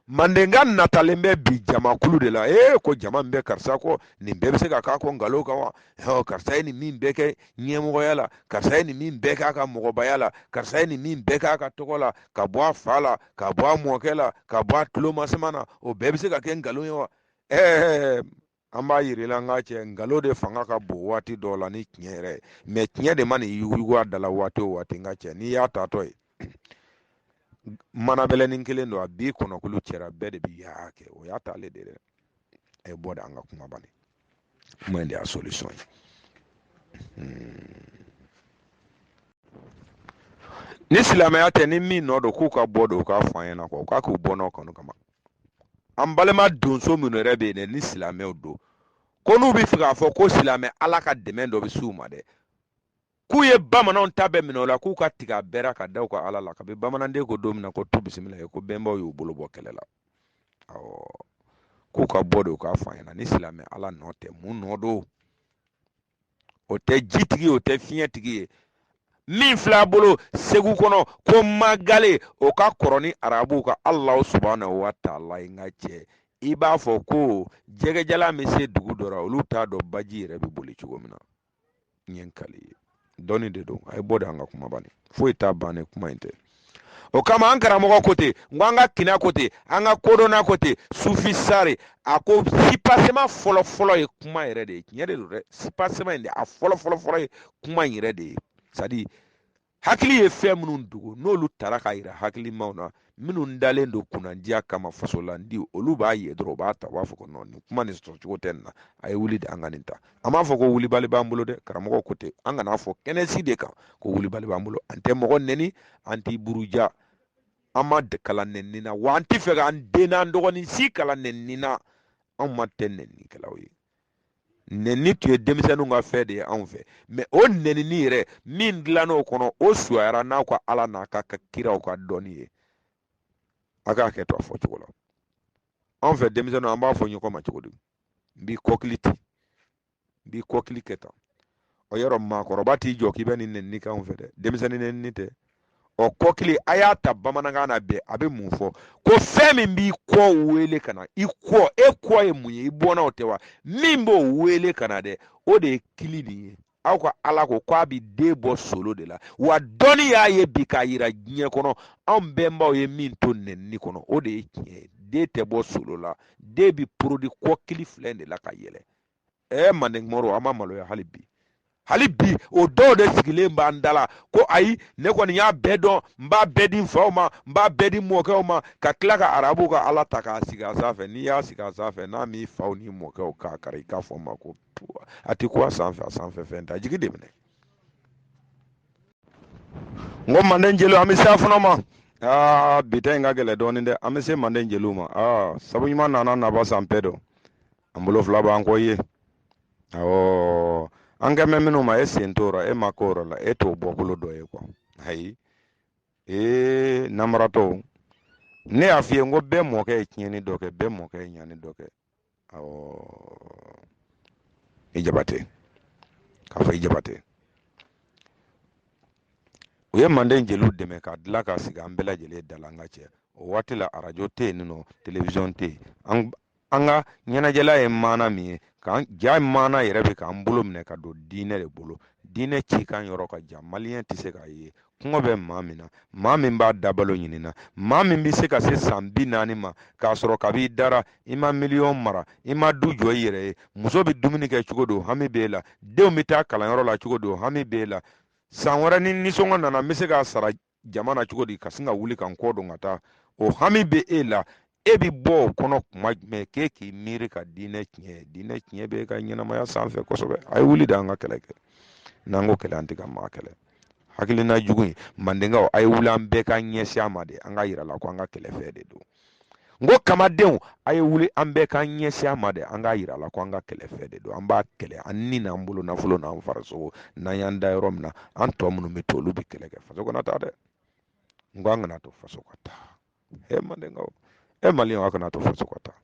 mandenka natalen bɛ bi jamakulu de la ee ko jama min bɛ karisa kɔ nin bɛɛ bɛ se ka k'a kɔ nkalon kan wa ɔ karisa ye nin min bɛɛ kɛ ɲɛmɔgɔya la karisa ye nin min bɛɛ k'a ka mɔgɔbaya la karisa ye nin min bɛɛ k'a ka tɔgɔ la ka bɔ a fa la ka bɔ a mɔkɛ la ka bɔ a tulomasama na o bɛɛ bɛ se ka kɛ nkalon ye wa ɛɛ an b'a yir'i la n ka cɛ nkalon de fanga ka bon waati dɔw la ni tiɲɛ yɛrɛ ye mɛ tiɲɛ de man'i yuguyugu a dala waati o waati n ka cɛ n'i y'a tatɔ ye manabɛlɛnin kelen don a bi kɔnɔkulu cɛra bɛɛ de bi yaa kɛ o y'a taale de dɛ a ye bɔ de an ka kuma bani kuma in de y'a solution ye ni silamɛya tɛ ni min nɔ don k'u ka bɔ don u k'a fɔ an ɲɛna kɔ k'a k'u bɔ n'o kanu kama an balima donso minnu yɛrɛ bɛ yen dɛ ni silamɛw don ko n'u bɛ fɛ k'a fɔ ko silamɛ ala ka dɛmɛ dɔ bɛ s'u ma dɛ k'u ye bamananw ta bɛɛ minɛ o la k'u ka tigɛ a bɛɛ ra ka da u ka ala la kabi bamananden ko don min na ko tu bisimilayi ko bɛnbaw y'u bolo bɔ kɛlɛ la awɔ k'u ka bɔ de u k'a fɔ an ɲɛna ni silamɛ ala nɔ tɛ mun nɔ don o tɛ jitigi o tɛ fiɲɛtigi ye min filɛ a bolo segu kɔnɔ ko magale o ka kɔrɔ ni arabuw ka alahu subahanahu wa taala ye n ka cɛ i b'a fɔ ko jɛgɛjalan bɛ se dugu dɔ la olu t'a dɔn baji yɛrɛ bɛ boli cogo min na n ye n kal'i ye dɔnni de don a ye bɔ de an ka kuma bani foyi t'a ban ni kuma in tɛ o kama an karamɔgɔ ko ten n ko an ka kina ko ten an ka kodɔnna ko ten sufi sari a ko sipasema fɔlɔfɔlɔ ye kuma yɛrɛ de ye tiɲɛ de don dɛ sipasema in de a fɔlɔfɔlɔfɔlɔ ye kuma in yɛrɛ de ye c'est-à-dire hakili ye fɛn minnu dogo n'olu tara ka yira hakilimaw na minnu dalen don kunnandiya kama fasolandi olu b'a ye dɔrɔn u b'a ta u b'a fɔ ko nɔ nin kuma nin sɔrɔcogo tɛ nin na a ye wuli de an ka nin ta an b'a fɔ ko wulibali b'an bolo dɛ karamɔgɔ ko ten an kana fɔ kɛnɛsi de kan ko wulibali b'an bolo an tɛ mɔgɔ nɛni an t'i buruja an ma kalan nɛni na wa an t'a fɛ k'an den n'an dɔgɔnin si kalan nɛni na anw ma tɛ nɛnikɛlaw ye nɛni tun ye denmisɛnninw ka fɛn de ye anw fɛ mɛ o nɛnini yɛrɛ min dilann'o kɔnɔ o fisayara n'aw ka ala n'a ka kiraw ka dɔnni ye a k'a kɛ to a fɔ cogo la anw fɛ denmisɛnninw an b'a fɔ ɲɔgɔn ma cogo di n b'i kɔkili ten n b'i kɔkili kɛ tan o yɔrɔ maakɔrɔba t'i jɔ k'i bɛ nin nɛni k'anw fɛ dɛ denmisɛnnin nɛni tɛ ɔ kɔkili a y'a ta bamanankan na bɛɛ a bɛ mun fɔ ko fɛn min b'i kɔ wele ka na i kɔ e kɔ ye mun ye i bɔnnaw tɛ wa min b'o wele ka na dɛ o de ye kili nin ye aw ka ala ko k'a bɛ den bɔ solo de la wa dɔnni y'a ye bi k'a yira diɲɛ kɔnɔ anw bɛnbaw ye min to nɛni kɔnɔ o de ye tiɲɛ ye den tɛ bɔ solo la den bɛ porodi kɔkili fila de la ka yɛlɛ ɛɛ manden mori an ma maloya hali bi hali bi o dɔw de sigilen b'an da la ko ayi ne kɔni y'a bɛɛ dɔn n b'a bɛɛ di n faw ma n b'a bɛɛ di mɔkɛw ma ka tila ka arabu ka ala ta k'a sigi a sanfɛ n'i y'a sigi a sanfɛ n'a m'i faw ni mɔkɛw kan kari i k'a fɔ n ma ko a tɛ ko a sanfɛ a sanfɛ fɛn t'a jigi de minɛ n ko manden jeliw an bɛ se a fana ma aa bi ta in ka gɛlɛn dɔɔnin dɛ an bɛ se manden jeliw ma aa sabu ɲuman nana naba san bɛɛ dɔn an bolo fila b'an kɔ ye awɔ an kan bɛ minnu ma e sen t'o rɔ e ma k'o rɔ la e t'o bɔkolo dɔ ye kuwa ayi ee namaratɔw ne y'a f'i ye n ko bɛɛ mɔkɛ ye tiɲɛni dɔ kɛ bɛɛ mɔkɛ ye ɲani dɔ kɛ awɔ i jabate k'a fɔ i jabate u ye manden jeliw dɛmɛ ka dilan ka sigi an bɛɛ lajɛlen da la an ka cɛ o waati la arajo tɛ yen nɔ telewisɔn tɛ yen an ka ɲɛnajɛla ye maana min ye jaa maana yɛrɛ bɛ k'an bolo minɛ ka don diinɛ de bolo diinɛ cikan yɔrɔ ka jan maliyɛn tɛ se k'a ye kɔngɔ bɛ maa min na maa min b'a dabalo ɲinin na maa min bɛ se ka se san bi naani ma k'a sɔrɔ kab'i dara i ma miliyɔn mara i ma du jɔ i yɛrɛ ye muso bɛ dumuni kɛ cogo di o hami b'e la denw bɛ taa kalanyɔrɔ la cogo di o hami b'e la san wɛrɛ ni nisɔngɔ nana n bɛ se k'a sara jama na cogo di ka sin ka wuli ka n kɔ don ka taa o hami bɛ e la e bɛ bɔ o kɔnɔ kuma jumɛn k'e k'i miiri ka diinɛ tiɲɛ diinɛ tiɲɛ bɛ e ka ɲɛnamaya sanfɛ kosɛbɛ a ye wuli de an ka kɛlɛ kɛ n'an ko kɛlɛ an tɛ ka maa kɛlɛ hakilina jugu in mandenkaw a ye wuli an bɛɛ ka ɲɛsin a ma de an k'a yira a la ko an ka kɛlɛfɛn de don n ko kamadenw a ye wuli an bɛɛ k'an ɲɛsin a ma dɛ an k'a yira la ko an ka kɛlɛfɛn de don an b'a kɛlɛ an ni n'an bolo nafolo n'an farisogo n'an y'an da yɔrɔ min na an tɔ minnu bɛ to olu bɛ kɛlɛ kɛ faso kana taa dɛ n ko an kana to faso ka taa e mandenkaw e maliyɛnw a kana to faso ka taa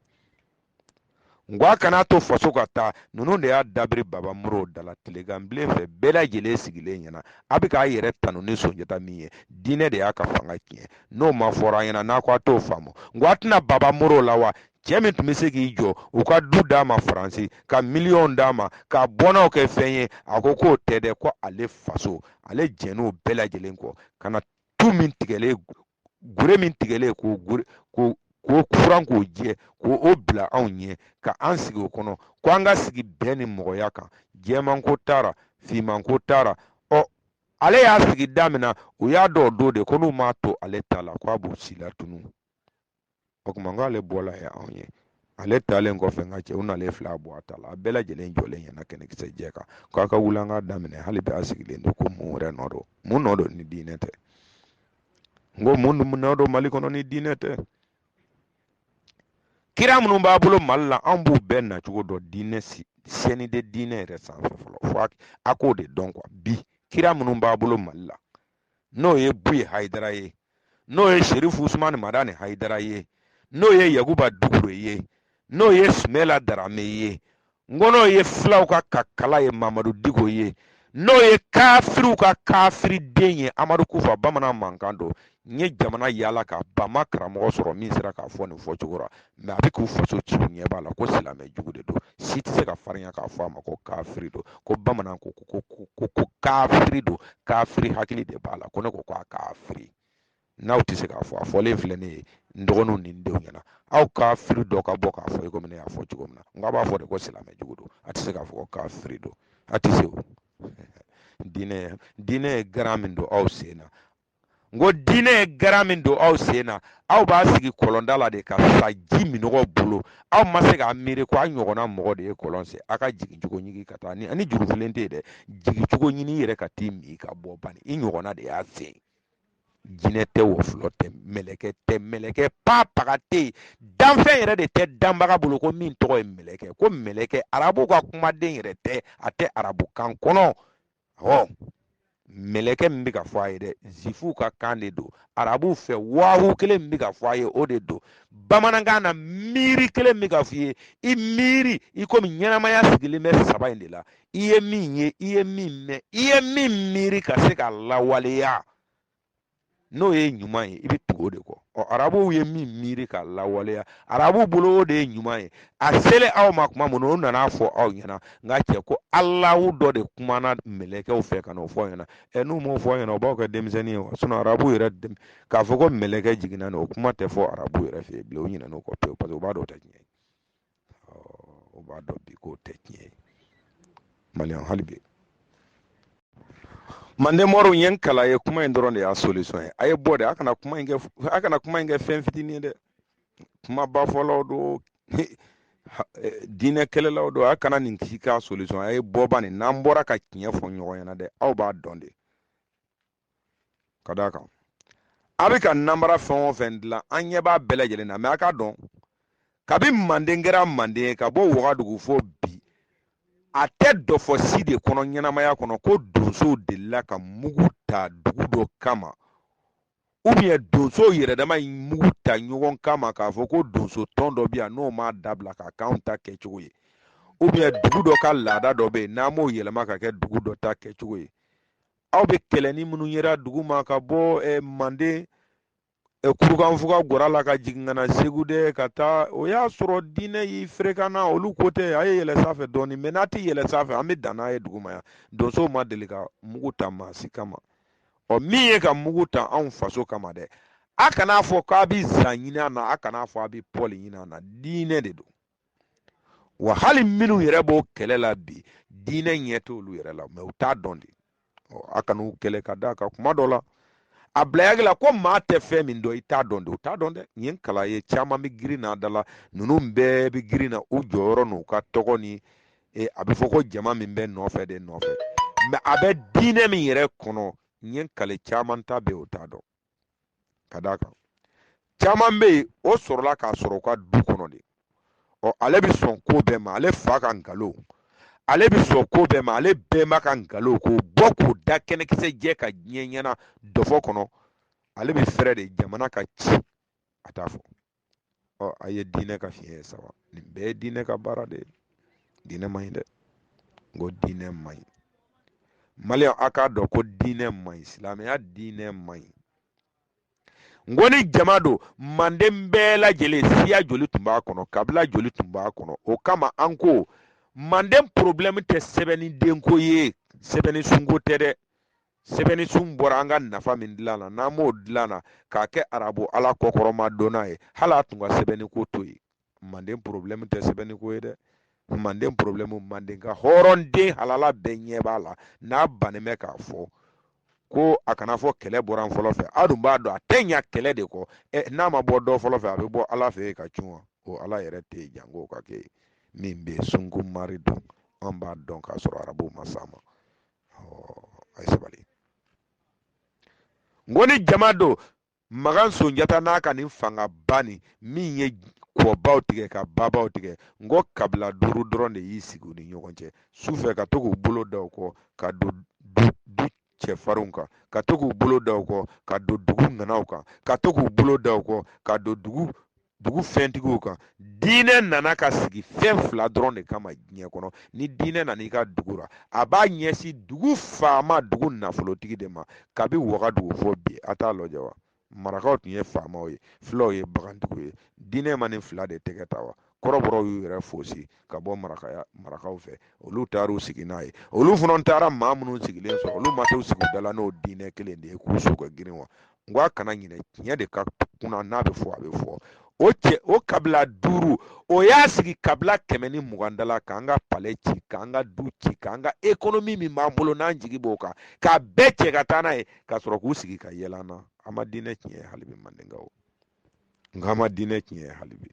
n k'a kana to faso ka taa ninnu de y'a dabiri baba moro dala tileganbilen fɛ bɛɛ lajɛlen sigilen ɲɛna a bɛ k'a yɛrɛ tanu ni sonjata min ye diinɛ de y'a ka fanga tiɲɛ n'o ma fɔra an ɲɛna n'a ko a t'o faamu n k'a tɛna baba moro la wa cɛ min tun bɛ se k'i jɔ u ka du d'a ma faransi ka miliyɔn d'a ma ka bɔnnaw kɛ fɛn ye a ko k'o tɛ dɛ ko ale faso ale jɛnn'o bɛɛ lajɛlen kɔ ka na tu min tigɛlen gure min tigɛlen k'o furan k'o jɛ k'o bila anw ɲɛ ka an sigi o kɔnɔ ko an ka sigi bɛn ni mɔgɔya kan jɛmanko t'a ra finmanko t'a ra ɔ ale y'a sigi da min na u y'a dɔn o don de ko n'u m'a to ale ta la ko a b'u si la tunu o tuma n k'ale bɔla ye anw ye ale taalen kɔfɛ n ka cɛw n'ale fila bɔ a ta la a bɛɛ lajɛlen jɔlen ɲɛna kɛnɛkisɛ jɛ kan k'a ka wuli an k'a daminɛ hali bi a sigilen don ko mun wɛrɛ nɔ don mun nɔ don ni diinɛ tɛ n ko mun nɔ don mali kɔnɔ ni diinɛ tɛ kira minnu b'a bolo mali la an b'u bɛɛ nacogo dɔn diinɛ sɛni de diinɛ yɛrɛ sanfɛ fɔlɔ fo a k'o de dɔn bi kira minnu b'a bolo mali la n'o ye buye hayidara ye n'o ye sherifu usumani madani hayidara ye n'o ye yakuba dukure ye n'o ye sumela darame ye n ko n'o ye filaw ka kakala ye mamadu diko ye n'o ye kafiriw ka kafiri den ye amadu kufa bamanan mankan don n ye jamana yaala ka ban n ma karamɔgɔ sɔrɔ min sera k'a fɔ nin fɔcogo la mɛ a bɛ k'u faso ci u ɲɛ b'a la ko silamɛ jugu de don si tɛ se ka farinya k'a fɔ a ma ko kafiri don ko bamanan ko ko ko ko kafiri don kafiri hakili de b'a la ko ne ko ko a kafiri n'aw tɛ se k'a fɔ a fɔlen filɛ ne ye n dɔgɔninw ni n denw ɲɛna aw kafiri dɔ ka bɔ k'a fɔ i komi ne y'a fɔ cogo min na n k'a b'a fɔ de ko silamɛ jugu don a tɛ se k'a fɔ ko kafiri don a tɛ se o diinɛ diinɛ ye garan min don aw sen na n ko diinɛ ye garan min don aw sen na aw b'a sigi kɔlɔnda la de ka sa ji minnɔgɔ bolo aw ma se k'a miiri ko a ɲɔgɔnna mɔgɔ de ye kɔlɔn sen a ka jigin cogo ɲini ka taa ni ani jurufilen tɛ yen dɛ jigin cogo ɲini i yɛrɛ ka t'i min ka bɔ bani i ɲɔgɔnna de y'a sen jinɛ tɛ wɔkulɔ tɛ mɛlɛkɛ tɛ mɛlɛkɛ pa paga tɛ yen danfɛn yɛrɛ de tɛ danbaga bolo ko min tɔgɔ ye mɛlɛkɛ ko mɛlɛkɛ arabu ka kumaden yɛrɛ tɛ a tɛ arabukan kɔnɔ ɔ mɛlɛkɛ min bɛ ka fɔ a ye dɛ zifuw ka kan de don arabuw fɛ wahu kelen min bɛ ka fɔ a ye o de don bamanankan na miiri kelen min bɛ ka fɔ i ye i miiri i komi ɲɛnamaya sigilen bɛ saba in de la i ye min ye i ye min mɛn i ye min miiri ka se k'a lawaleya n'o ye ɲuman ye i bɛ tugu o de kɔ ɔ arabuw ye min miiri ka lawaleya arabuw bolo o de ye ɲuman ye a selen aw ma tuma min na o nana fɔ aw ɲɛna nka cɛ ko alahu dɔ de kumana mɛlɛkɛw fɛ ka n'o fɔ aw ɲɛna ɛ n'u m'o fɔ aw ɲɛna o b'aw kɛ denmisɛnnin ye wa sinon arabuw yɛrɛ dem- k'a fɔ ko mɛlɛkɛ jiginna nin o kuma tɛ fɔ arabuw yɛrɛ fɛ yen bilen o ɲinɛna o kɔ pewu parce que u b'a dɔn o tɛ tiɲɛ ye o b'a dɔn bi k'o tɛ tiɲɛ ye maliyɛn hali bi manden mɔriw ye n kala ye kuma in dɔrɔn de y'a solution ye a ye bɔ dɛ a kana kuma in kɛ fɛn fitinin ye dɛ kumaba fɔlaw don diinɛ kɛlɛlaw don a kana nin k'i ka solution a ye bɔ bani n'an bɔra ka tiɲɛ fɔ ɲɔgɔn ɲɛna dɛ aw b'a dɔn de ka d'a kan a bɛ ka namara fɛn o fɛn dilan an ɲɛ b'a bɛɛ lajɛlen na mais a k'a dɔn kabi manden kɛra manden ye ka bɔ wagadugu fo bi a tɛ dɔfɔ si de kɔnɔ ɲɛnamaya kɔnɔ ko donsow delila ka mugu ta dugu dɔ kama ou bien donsow yɛrɛ dama ye mugu ta ɲɔgɔn kama k'a fɔ ko donso tɔn dɔ bɛ yan n'o m'a dabila ka k'anw ta kɛcogo ye ou bien dugu dɔ ka laada dɔ bɛ yen n'an m'o yɛlɛma ka kɛ dugu dɔ ta kɛcogo ye aw bɛ kɛlɛni minnu yera dugu ma ka bɔ eh, manden eh, kurukanfuga gara la ka jigin ka na segu de ka taa o y'a sɔrɔ diinɛ y'i ferekana olu ko tɛ a ye yɛlɛ sanfɛ dɔɔni mais n'a tɛ yɛlɛ sanfɛ an bɛ dan n'a ye dugu ma yan donsow ma deli ka mugu ta maa si kama ɔ min ye ka mugu ta anw faso kama dɛ a kana fɔ k'a bɛ zan ɲini a na a kana fɔ a bɛ pɔli ɲini a na diinɛ de don wa hali minnu yɛrɛ b'o kɛlɛ la bi diinɛ ɲɛ t'olu yɛrɛ la mais u t'a dɔn de a kan'u kɛlɛ ka d'a kan kuma dɔ la a bilayagi la ko maa tɛ fɛn min dɔn i t'a dɔn de u t'a dɔn dɛ nin ye kala ye caman bɛ girin na da la ninnu bɛɛ bɛ girin na u jɔyɔrɔ n'u ka tɔgɔ ni e, a bɛ fɔ ko jama min bɛ nɔfɛ de nɔfɛ mais a bɛ diinɛ min yɛrɛ kɔnɔ nin ye kale caman ta bɛ o t'a dɔn ka d'a kan caman bɛ yen o sɔrɔla k'a sɔrɔ u ka du kɔnɔ de ɔ ale bɛ sɔn ko bɛɛ ma ale fa ka nkalon ale bɛ sɔn ko bɛɛ ma ale bɛnba ka nkalon k'o bɔ k'o da kɛnɛkisɛ jɛ ka diɲɛ ɲɛna dɔfɔ kɔnɔ ale bɛ fɛɛrɛ de jamana ka ci a t'a fɔ ɔ a ye diinɛ ka fiɲɛ ye sa wa nin bɛɛ ye diinɛ ka baara de ye diinɛ man ɲi dɛ n ko diinɛ man ɲi maliyɛn a k'a dɔn ko diinɛ man ɲi silamɛya diinɛ man ɲi n ko ni jama don manden bɛɛ lajɛlen siya joli tun b'a kɔnɔ kabila joli tun b'a kɔnɔ o kama an ko manden porobilɛmu tɛ sɛbɛnni denko ye sɛbɛnni sunko tɛ dɛ sɛbɛnni sun bɔra an ka nafa min dilan na n'an m'o dilan na k'a kɛ arabu ala kɔkɔrɔma donna ye hali a tun ka sɛbɛnni ko to yen manden porobilɛmu tɛ sɛbɛnni ko ye dɛ manden porobilɛmu manden ka hɔrɔnden halala bɛɛ ɲɛ b'a la n'a bannen bɛ k'a fɔ ko a kana fɔ kɛlɛ bɔra fɔlɔ fɛ aw dun b'a dɔn a tɛ ɲa kɛlɛ de kɔ ɛ n'a ma bɔ dɔ fɔlɔ fɛ a bɛ bɔ ala fɛ yen ka cun wa o ala yɛrɛ tɛ yen janko ka kɛ min bɛ sunko mari dun an b'a dɔn k'a sɔrɔ arabu ma s'a ma a ye sabali n ko ni jama don magan sonjata n'a ka nin fangaba nin min ye kɔbaw tigɛ ka babaw tigɛ n ko kabila duuru dɔrɔn de y'i sigi u ni ɲɔgɔn cɛ su fɛ ka to k'u bolo da u kɔ ka don dugu cɛfarinw kan ka to k'u bolo da u kɔ ka don dugu ŋanaw kan ka to k'u bolo da u kɔ ka don dugu dugu fɛntigiw kan diinɛ nana ka sigi fɛn fila dɔrɔn de kama diɲɛ kɔnɔ ni diinɛ nana i ka dugu la a b'a ɲɛsin dugu faama dugu nafolotigi de ma kabi wagadugu fɔ bi a t'a lajɛ wa marakaw tun ye faamaw ye filaw ye bagantigiw ye diinɛ ma nin fila de tɛgɛ ta wa kɔrɔbɔrɔw y'u yɛrɛ fosi ka bɔ marakaw fɛ olu taar'u sigi n'a ye olu fana taara maa minnu sigilen sɔrɔ olu ma t'u sigi u da la n'o diinɛ kelen de ye k'u su ka girin wa n ko a kana ɲinɛ tiɲɛ de ka kunan n'a bɛ fɔ a bɛ fɔ o kabila duuru o y'a sigi kabila kɛmɛ ni mugan da la k'an ka palɛ ci k'an ka du ci k'an ka ekonomi min b'an bolo n'an jigi b'o kan k'a bɛɛ cɛ ka taa n'a ye ka sɔrɔ k'u sigi ka yɛlɛ an na an ma diinɛ tiɲɛ ye hali bi mandenkaw n k'an ma diinɛ tiɲɛ ye hali bi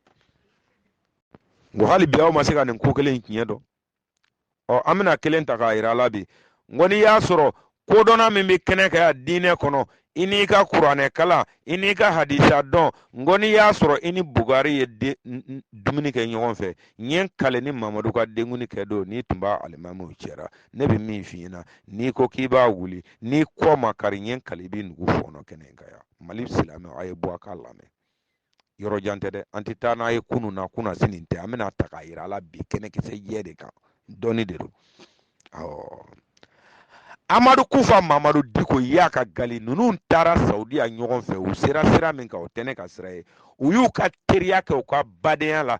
n ko hali bi aw ma se ka nin ko kelen in tiɲɛ dɔn ɔ an bɛna kelen ta k'a yira la bi n ko n'i y'a sɔrɔ kodɔnna min bɛ kɛnɛ kan yan diinɛ kɔnɔ i n'i ka kuranɛ kalan i n'i ka hadisa dɔn n ko n'i y'a sɔrɔ i ni bugari ye dumuni kɛ ɲɔgɔn fɛ n ye n kale ni mamadu ka denkuni kɛ don n'i tun b'a alimamiw cɛra ne bɛ min f'i ɲɛna n'i ko k'i b'a wuli n'i kɔ ma kari n ye n kale i b'i nugu fɔɔnɔ kɛnɛ in kan yan mali silamɛw a ye bɔ a k'a lamɛn yɔrɔ jan tɛ dɛ an tɛ taa n'a ye kunun na kunnasini tɛ an bɛna ta k'a yira a la bi kɛnɛkisɛ jɛ de kan dɔnni de don awɔ amadu kufa mamadu diko iyad ag gali ninnu taara saudiya ɲɔgɔn fɛ u sera sira min kan o tɛ ne ka sira ye u y'u ka teriya kɛ u ka badenya la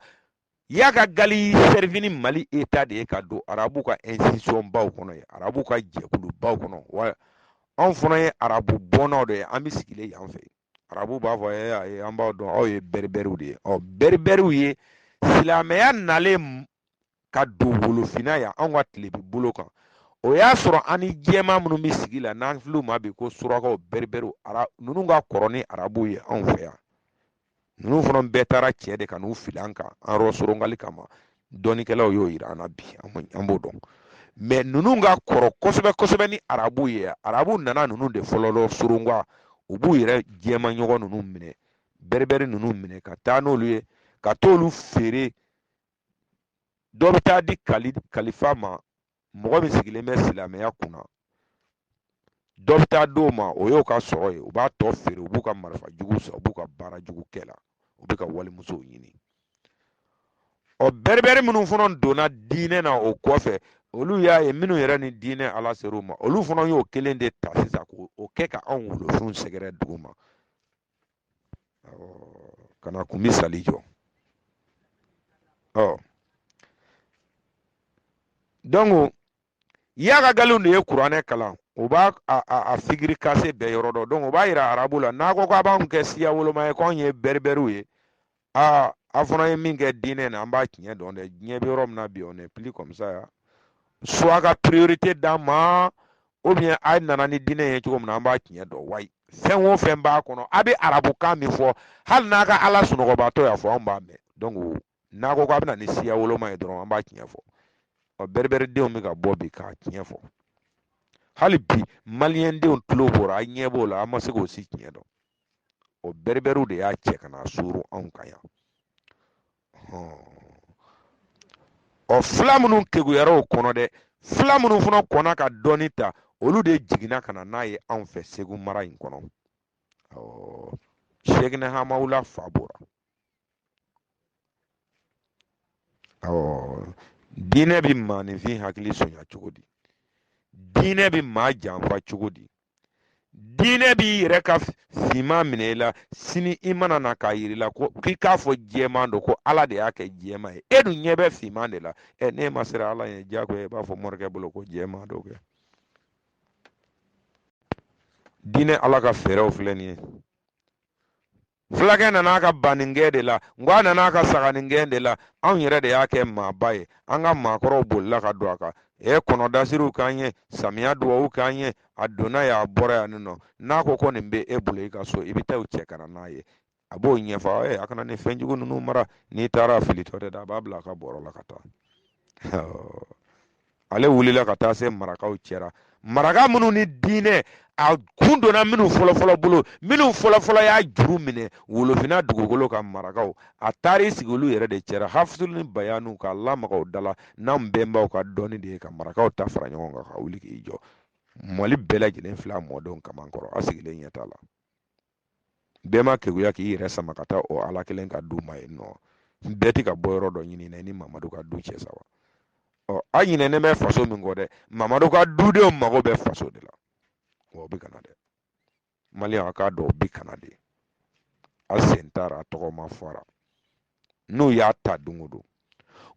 iyad ag gali sɛrifini mali eta de ye ka don arabu ka institution baw kɔnɔ ye arabu ka jɛkulu baw kɔnɔ wa anw fana ye arabu bɔnnaw de ye an bɛ sigilen yan fɛ arabu b'a fɔ eh, ayi an b'aw dɔn aw ye bɛribɛriw de ye ɔ bɛribɛriw ye silamɛya nalen ka don wolofinna yan anw ka tilebin bolo kan o y'a sɔrɔ an ni jɛma minnu bɛ sigi la n'an filɛ u ma bi ko surakaw bɛribɛriw ara ninnu ka kɔrɔ ni arabuw ye anw fɛ yan ninnu fana bɛɛ taara cɛ de ka n'u fili an kan an yɔrɔ sorongali kama dɔnnikɛlaw y'o yira an na bi an b'o dɔn mɛ ninnu ka kɔrɔ kosɛbɛ kosɛbɛ ni arabu ye arabu nana ninnu de fɔlɔ lɔ soronka u b'u yɛrɛ jɛman ɲɔgɔn ninnu minɛ bɛribɛri ninnu minɛ ka taa n'olu ye ka t'olu feere dɔ bɛ taa di kalifa ma mɔgɔ min sigilen bɛ silamɛya kunna dɔ bɛ taa d'o ma o y'o ka sɔrɔ ye u b'a tɔ feere u b'u ka marifa jugu san u b'u ka baara jugu kɛ la u bɛ ka walimusow ɲini ɔ bɛribɛri minnu fana donna diinɛ na o kɔfɛ olu y'a ye minnu yɛrɛ ni diinɛ ala ser'u ma olu fana y'o kelen de ta sisan k'o kɛ ka anw wolofinw sɛgɛrɛ duguma ka na kun misali jɔ ɔ donc y'a ka galiw de ye kuranɛ kalan u b'a a, a, a figiri kase bɛɛ yɔrɔ dɔn donc u b'a yira arabu la n'a ko k'a b'anw kɛ siya woloma ye k'anw ye bɛribɛriw ye aa a fana ye min kɛ diinɛ na an b'a tiɲɛ dɔn dɛ diɲɛ bɛ yɔrɔ min na bi on n'est plus comme ça ya soit ka priorité d'a ma ou bien a nana ni diinɛ ye cogo min na an b'a tiɲɛ dɔn wayi fɛn o fɛn b'a kɔnɔ a bɛ arabukan min fɔ hali n'a ka ala sunɔgɔbaatɔ y'a fɔ anw b'a mɛn donc n'a ko k'a bɛna ni siya woloma ye dɔrɔn an b'a tiɲɛ fɔ ɔ bɛribɛridenw bɛ ka bɔ bi k'a tiɲɛ fɔ hali bi maliyɛndenw tulo bɔra a ɲɛ b'o la an ma se k'o si tiɲɛ dɔn o bɛribɛriw de y'a cɛ ka na suru anw kan yan ɔ fila minnu keguyara o kɔnɔ dɛ fila minnu fana kɔnna ka dɔɔni ta olu de jiginna ka na n'a ye anw fɛ segu mara in kɔnɔ ɔ sɛkina hamawula fa bɔra ɔ diinɛ bɛ maaninfin hakili sonya cogo di diinɛ bɛ maa janfa cogo di diinɛ b'i yɛrɛ ka finman minɛ i la sini i mana na k'a yir'i la ko k'i k'a fɔ jɛman don ko ala de y'a kɛ jɛman ye e dun ɲɛ bɛ finman de la ɛ n'e ma siran ala ɲɛ diyagoya i b'a fɔ morikɛ bolo ko jɛman don kɛ diinɛ ala ka fɛɛrɛw filɛ nin ye fulakɛ nan'a ka baningɛn de la n ko a nan'a ka saganingɛn de la anw yɛrɛ de y'a kɛ maaba ye an ka maakɔrɔw bolila ka don a kan e kɔnɔdasiriw k'an ye samiya duwawu k'an ye a donna yan a bɔra yan nin nɔ n'a ko ko nin bɛ e bolo i ka so i bɛ taa u cɛ ka na n'a ye a b'o ɲɛfɔ e a kana nin fɛn jugu ninnu mara n'i taara a filitɔ de da a b'a bila a ka bɔrɔ la ka taa ale wulila ka taa se marakaw cɛra maraka minnu ni diinɛ a kun donna minnu fɔlɔfɔlɔ bolo minnu fɔlɔfɔlɔ y'a juru minɛ wolofinna dugukolo kan marakaw a taar'i sigi olu yɛrɛ de cɛra hafisul ni bayanu k'a lamaga o dala n'an bɛnbaw ka dɔnni de ye ka marakaw ta fara ɲɔgɔn kan ka wuli k'i jɔ mali bɛɛ lajɛlen filɛ a mɔdenw kamankɔrɔ a sigilen ɲɛ t'a la bɛɛ ma keguya k'i yɛrɛ sama ka taa o ala kelen ka du ma yen nɔ bɛɛ tɛ ka bɔ yɔrɔ dɔ ɲini na ni mamadu ka du cɛ sa wa ɔ a ɲinɛnen bɛ faso min kɔ dɛ mamadu ka dudenw mago bɛ faso de la wa o bɛ ka na dɛ maliyɛnw a k'a dɔn o bɛ ka na dɛ a sen taara a tɔgɔ ma fɔra n'u y'a ta don o don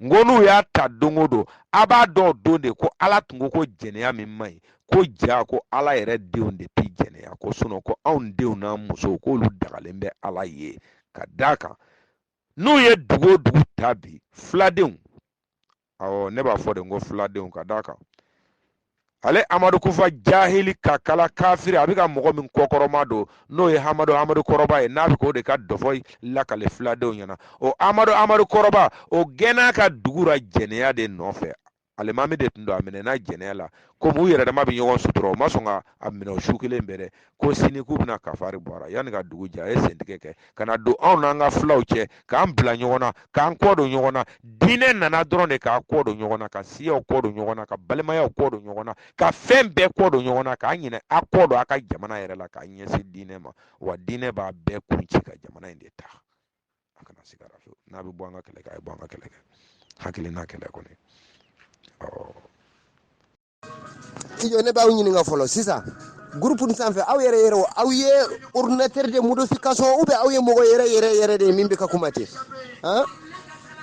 n ko n'u y'a ta don o don a b'a dɔn o don de ko ala tun ko ko jɛnɛya min man ɲi ko jaa ko ala yɛrɛ denw de tɛ jɛnɛya ko sinɔn ko anw denw n'an musow k'olu dagalen bɛ ala ye ka d'a kan n'u ye dugu o dugu ta bi filadenw awɔ ne b'a fɔ de ko filadenw ka d'a kan ale amadu kufa jahili kakala kafiri a bɛ ka mɔgɔ min kɔkɔrɔmadon n'o ye hamadu amadu kɔrɔba ye n'a bɛ k'o de ka dɔfɔ lakale filadenw ɲɛna o amadu amadu kɔrɔba o gɛnna a ka dugu la jɛnɛya de nɔfɛ alimami de tun don a minɛna jɛnɛya la komi u yɛrɛ dama bɛ ɲɔgɔn sutura u ma sɔn ka a minɛ o su kelen bɛɛ dɛ ko sini k'u bɛna kafari bɔ a la yanni ka dugu jɛ a ye sentigɛ kɛ ka na don anw n'an ka filaw cɛ k'an bila ɲɔgɔn na k'an kɔ don ɲɔgɔn na diinɛ nana dɔrɔn de k'a kɔ don ɲɔgɔn na ka siyaw kɔ don ɲɔgɔn na ka balimayaw kɔ don ɲɔgɔn na ka fɛn bɛɛ kɔ don ɲɔgɔn na k'a ɲinɛ a kɔ don a ka jamana yɛrɛ la k'a ɲɛsin diinɛ ma wa diinɛ b'a bɛɛ kun ci ka jamana in de ta a kana siga a la fewu n'a bɛ bɔ an ka kɛlɛ kɛ a ye bɔ an ka kɛlɛ kɛ hakilina kɛlɛ kɔni ɔ ijo ne b'aw ɲininka fɔlɔ sisan gurupu nin sanfɛ aw yɛrɛ yɛrɛ aw ye ordinateur de modification ou bien aw ye mɔgɔ yɛrɛ yɛrɛ yɛrɛ de ye min bɛ ka kuma ten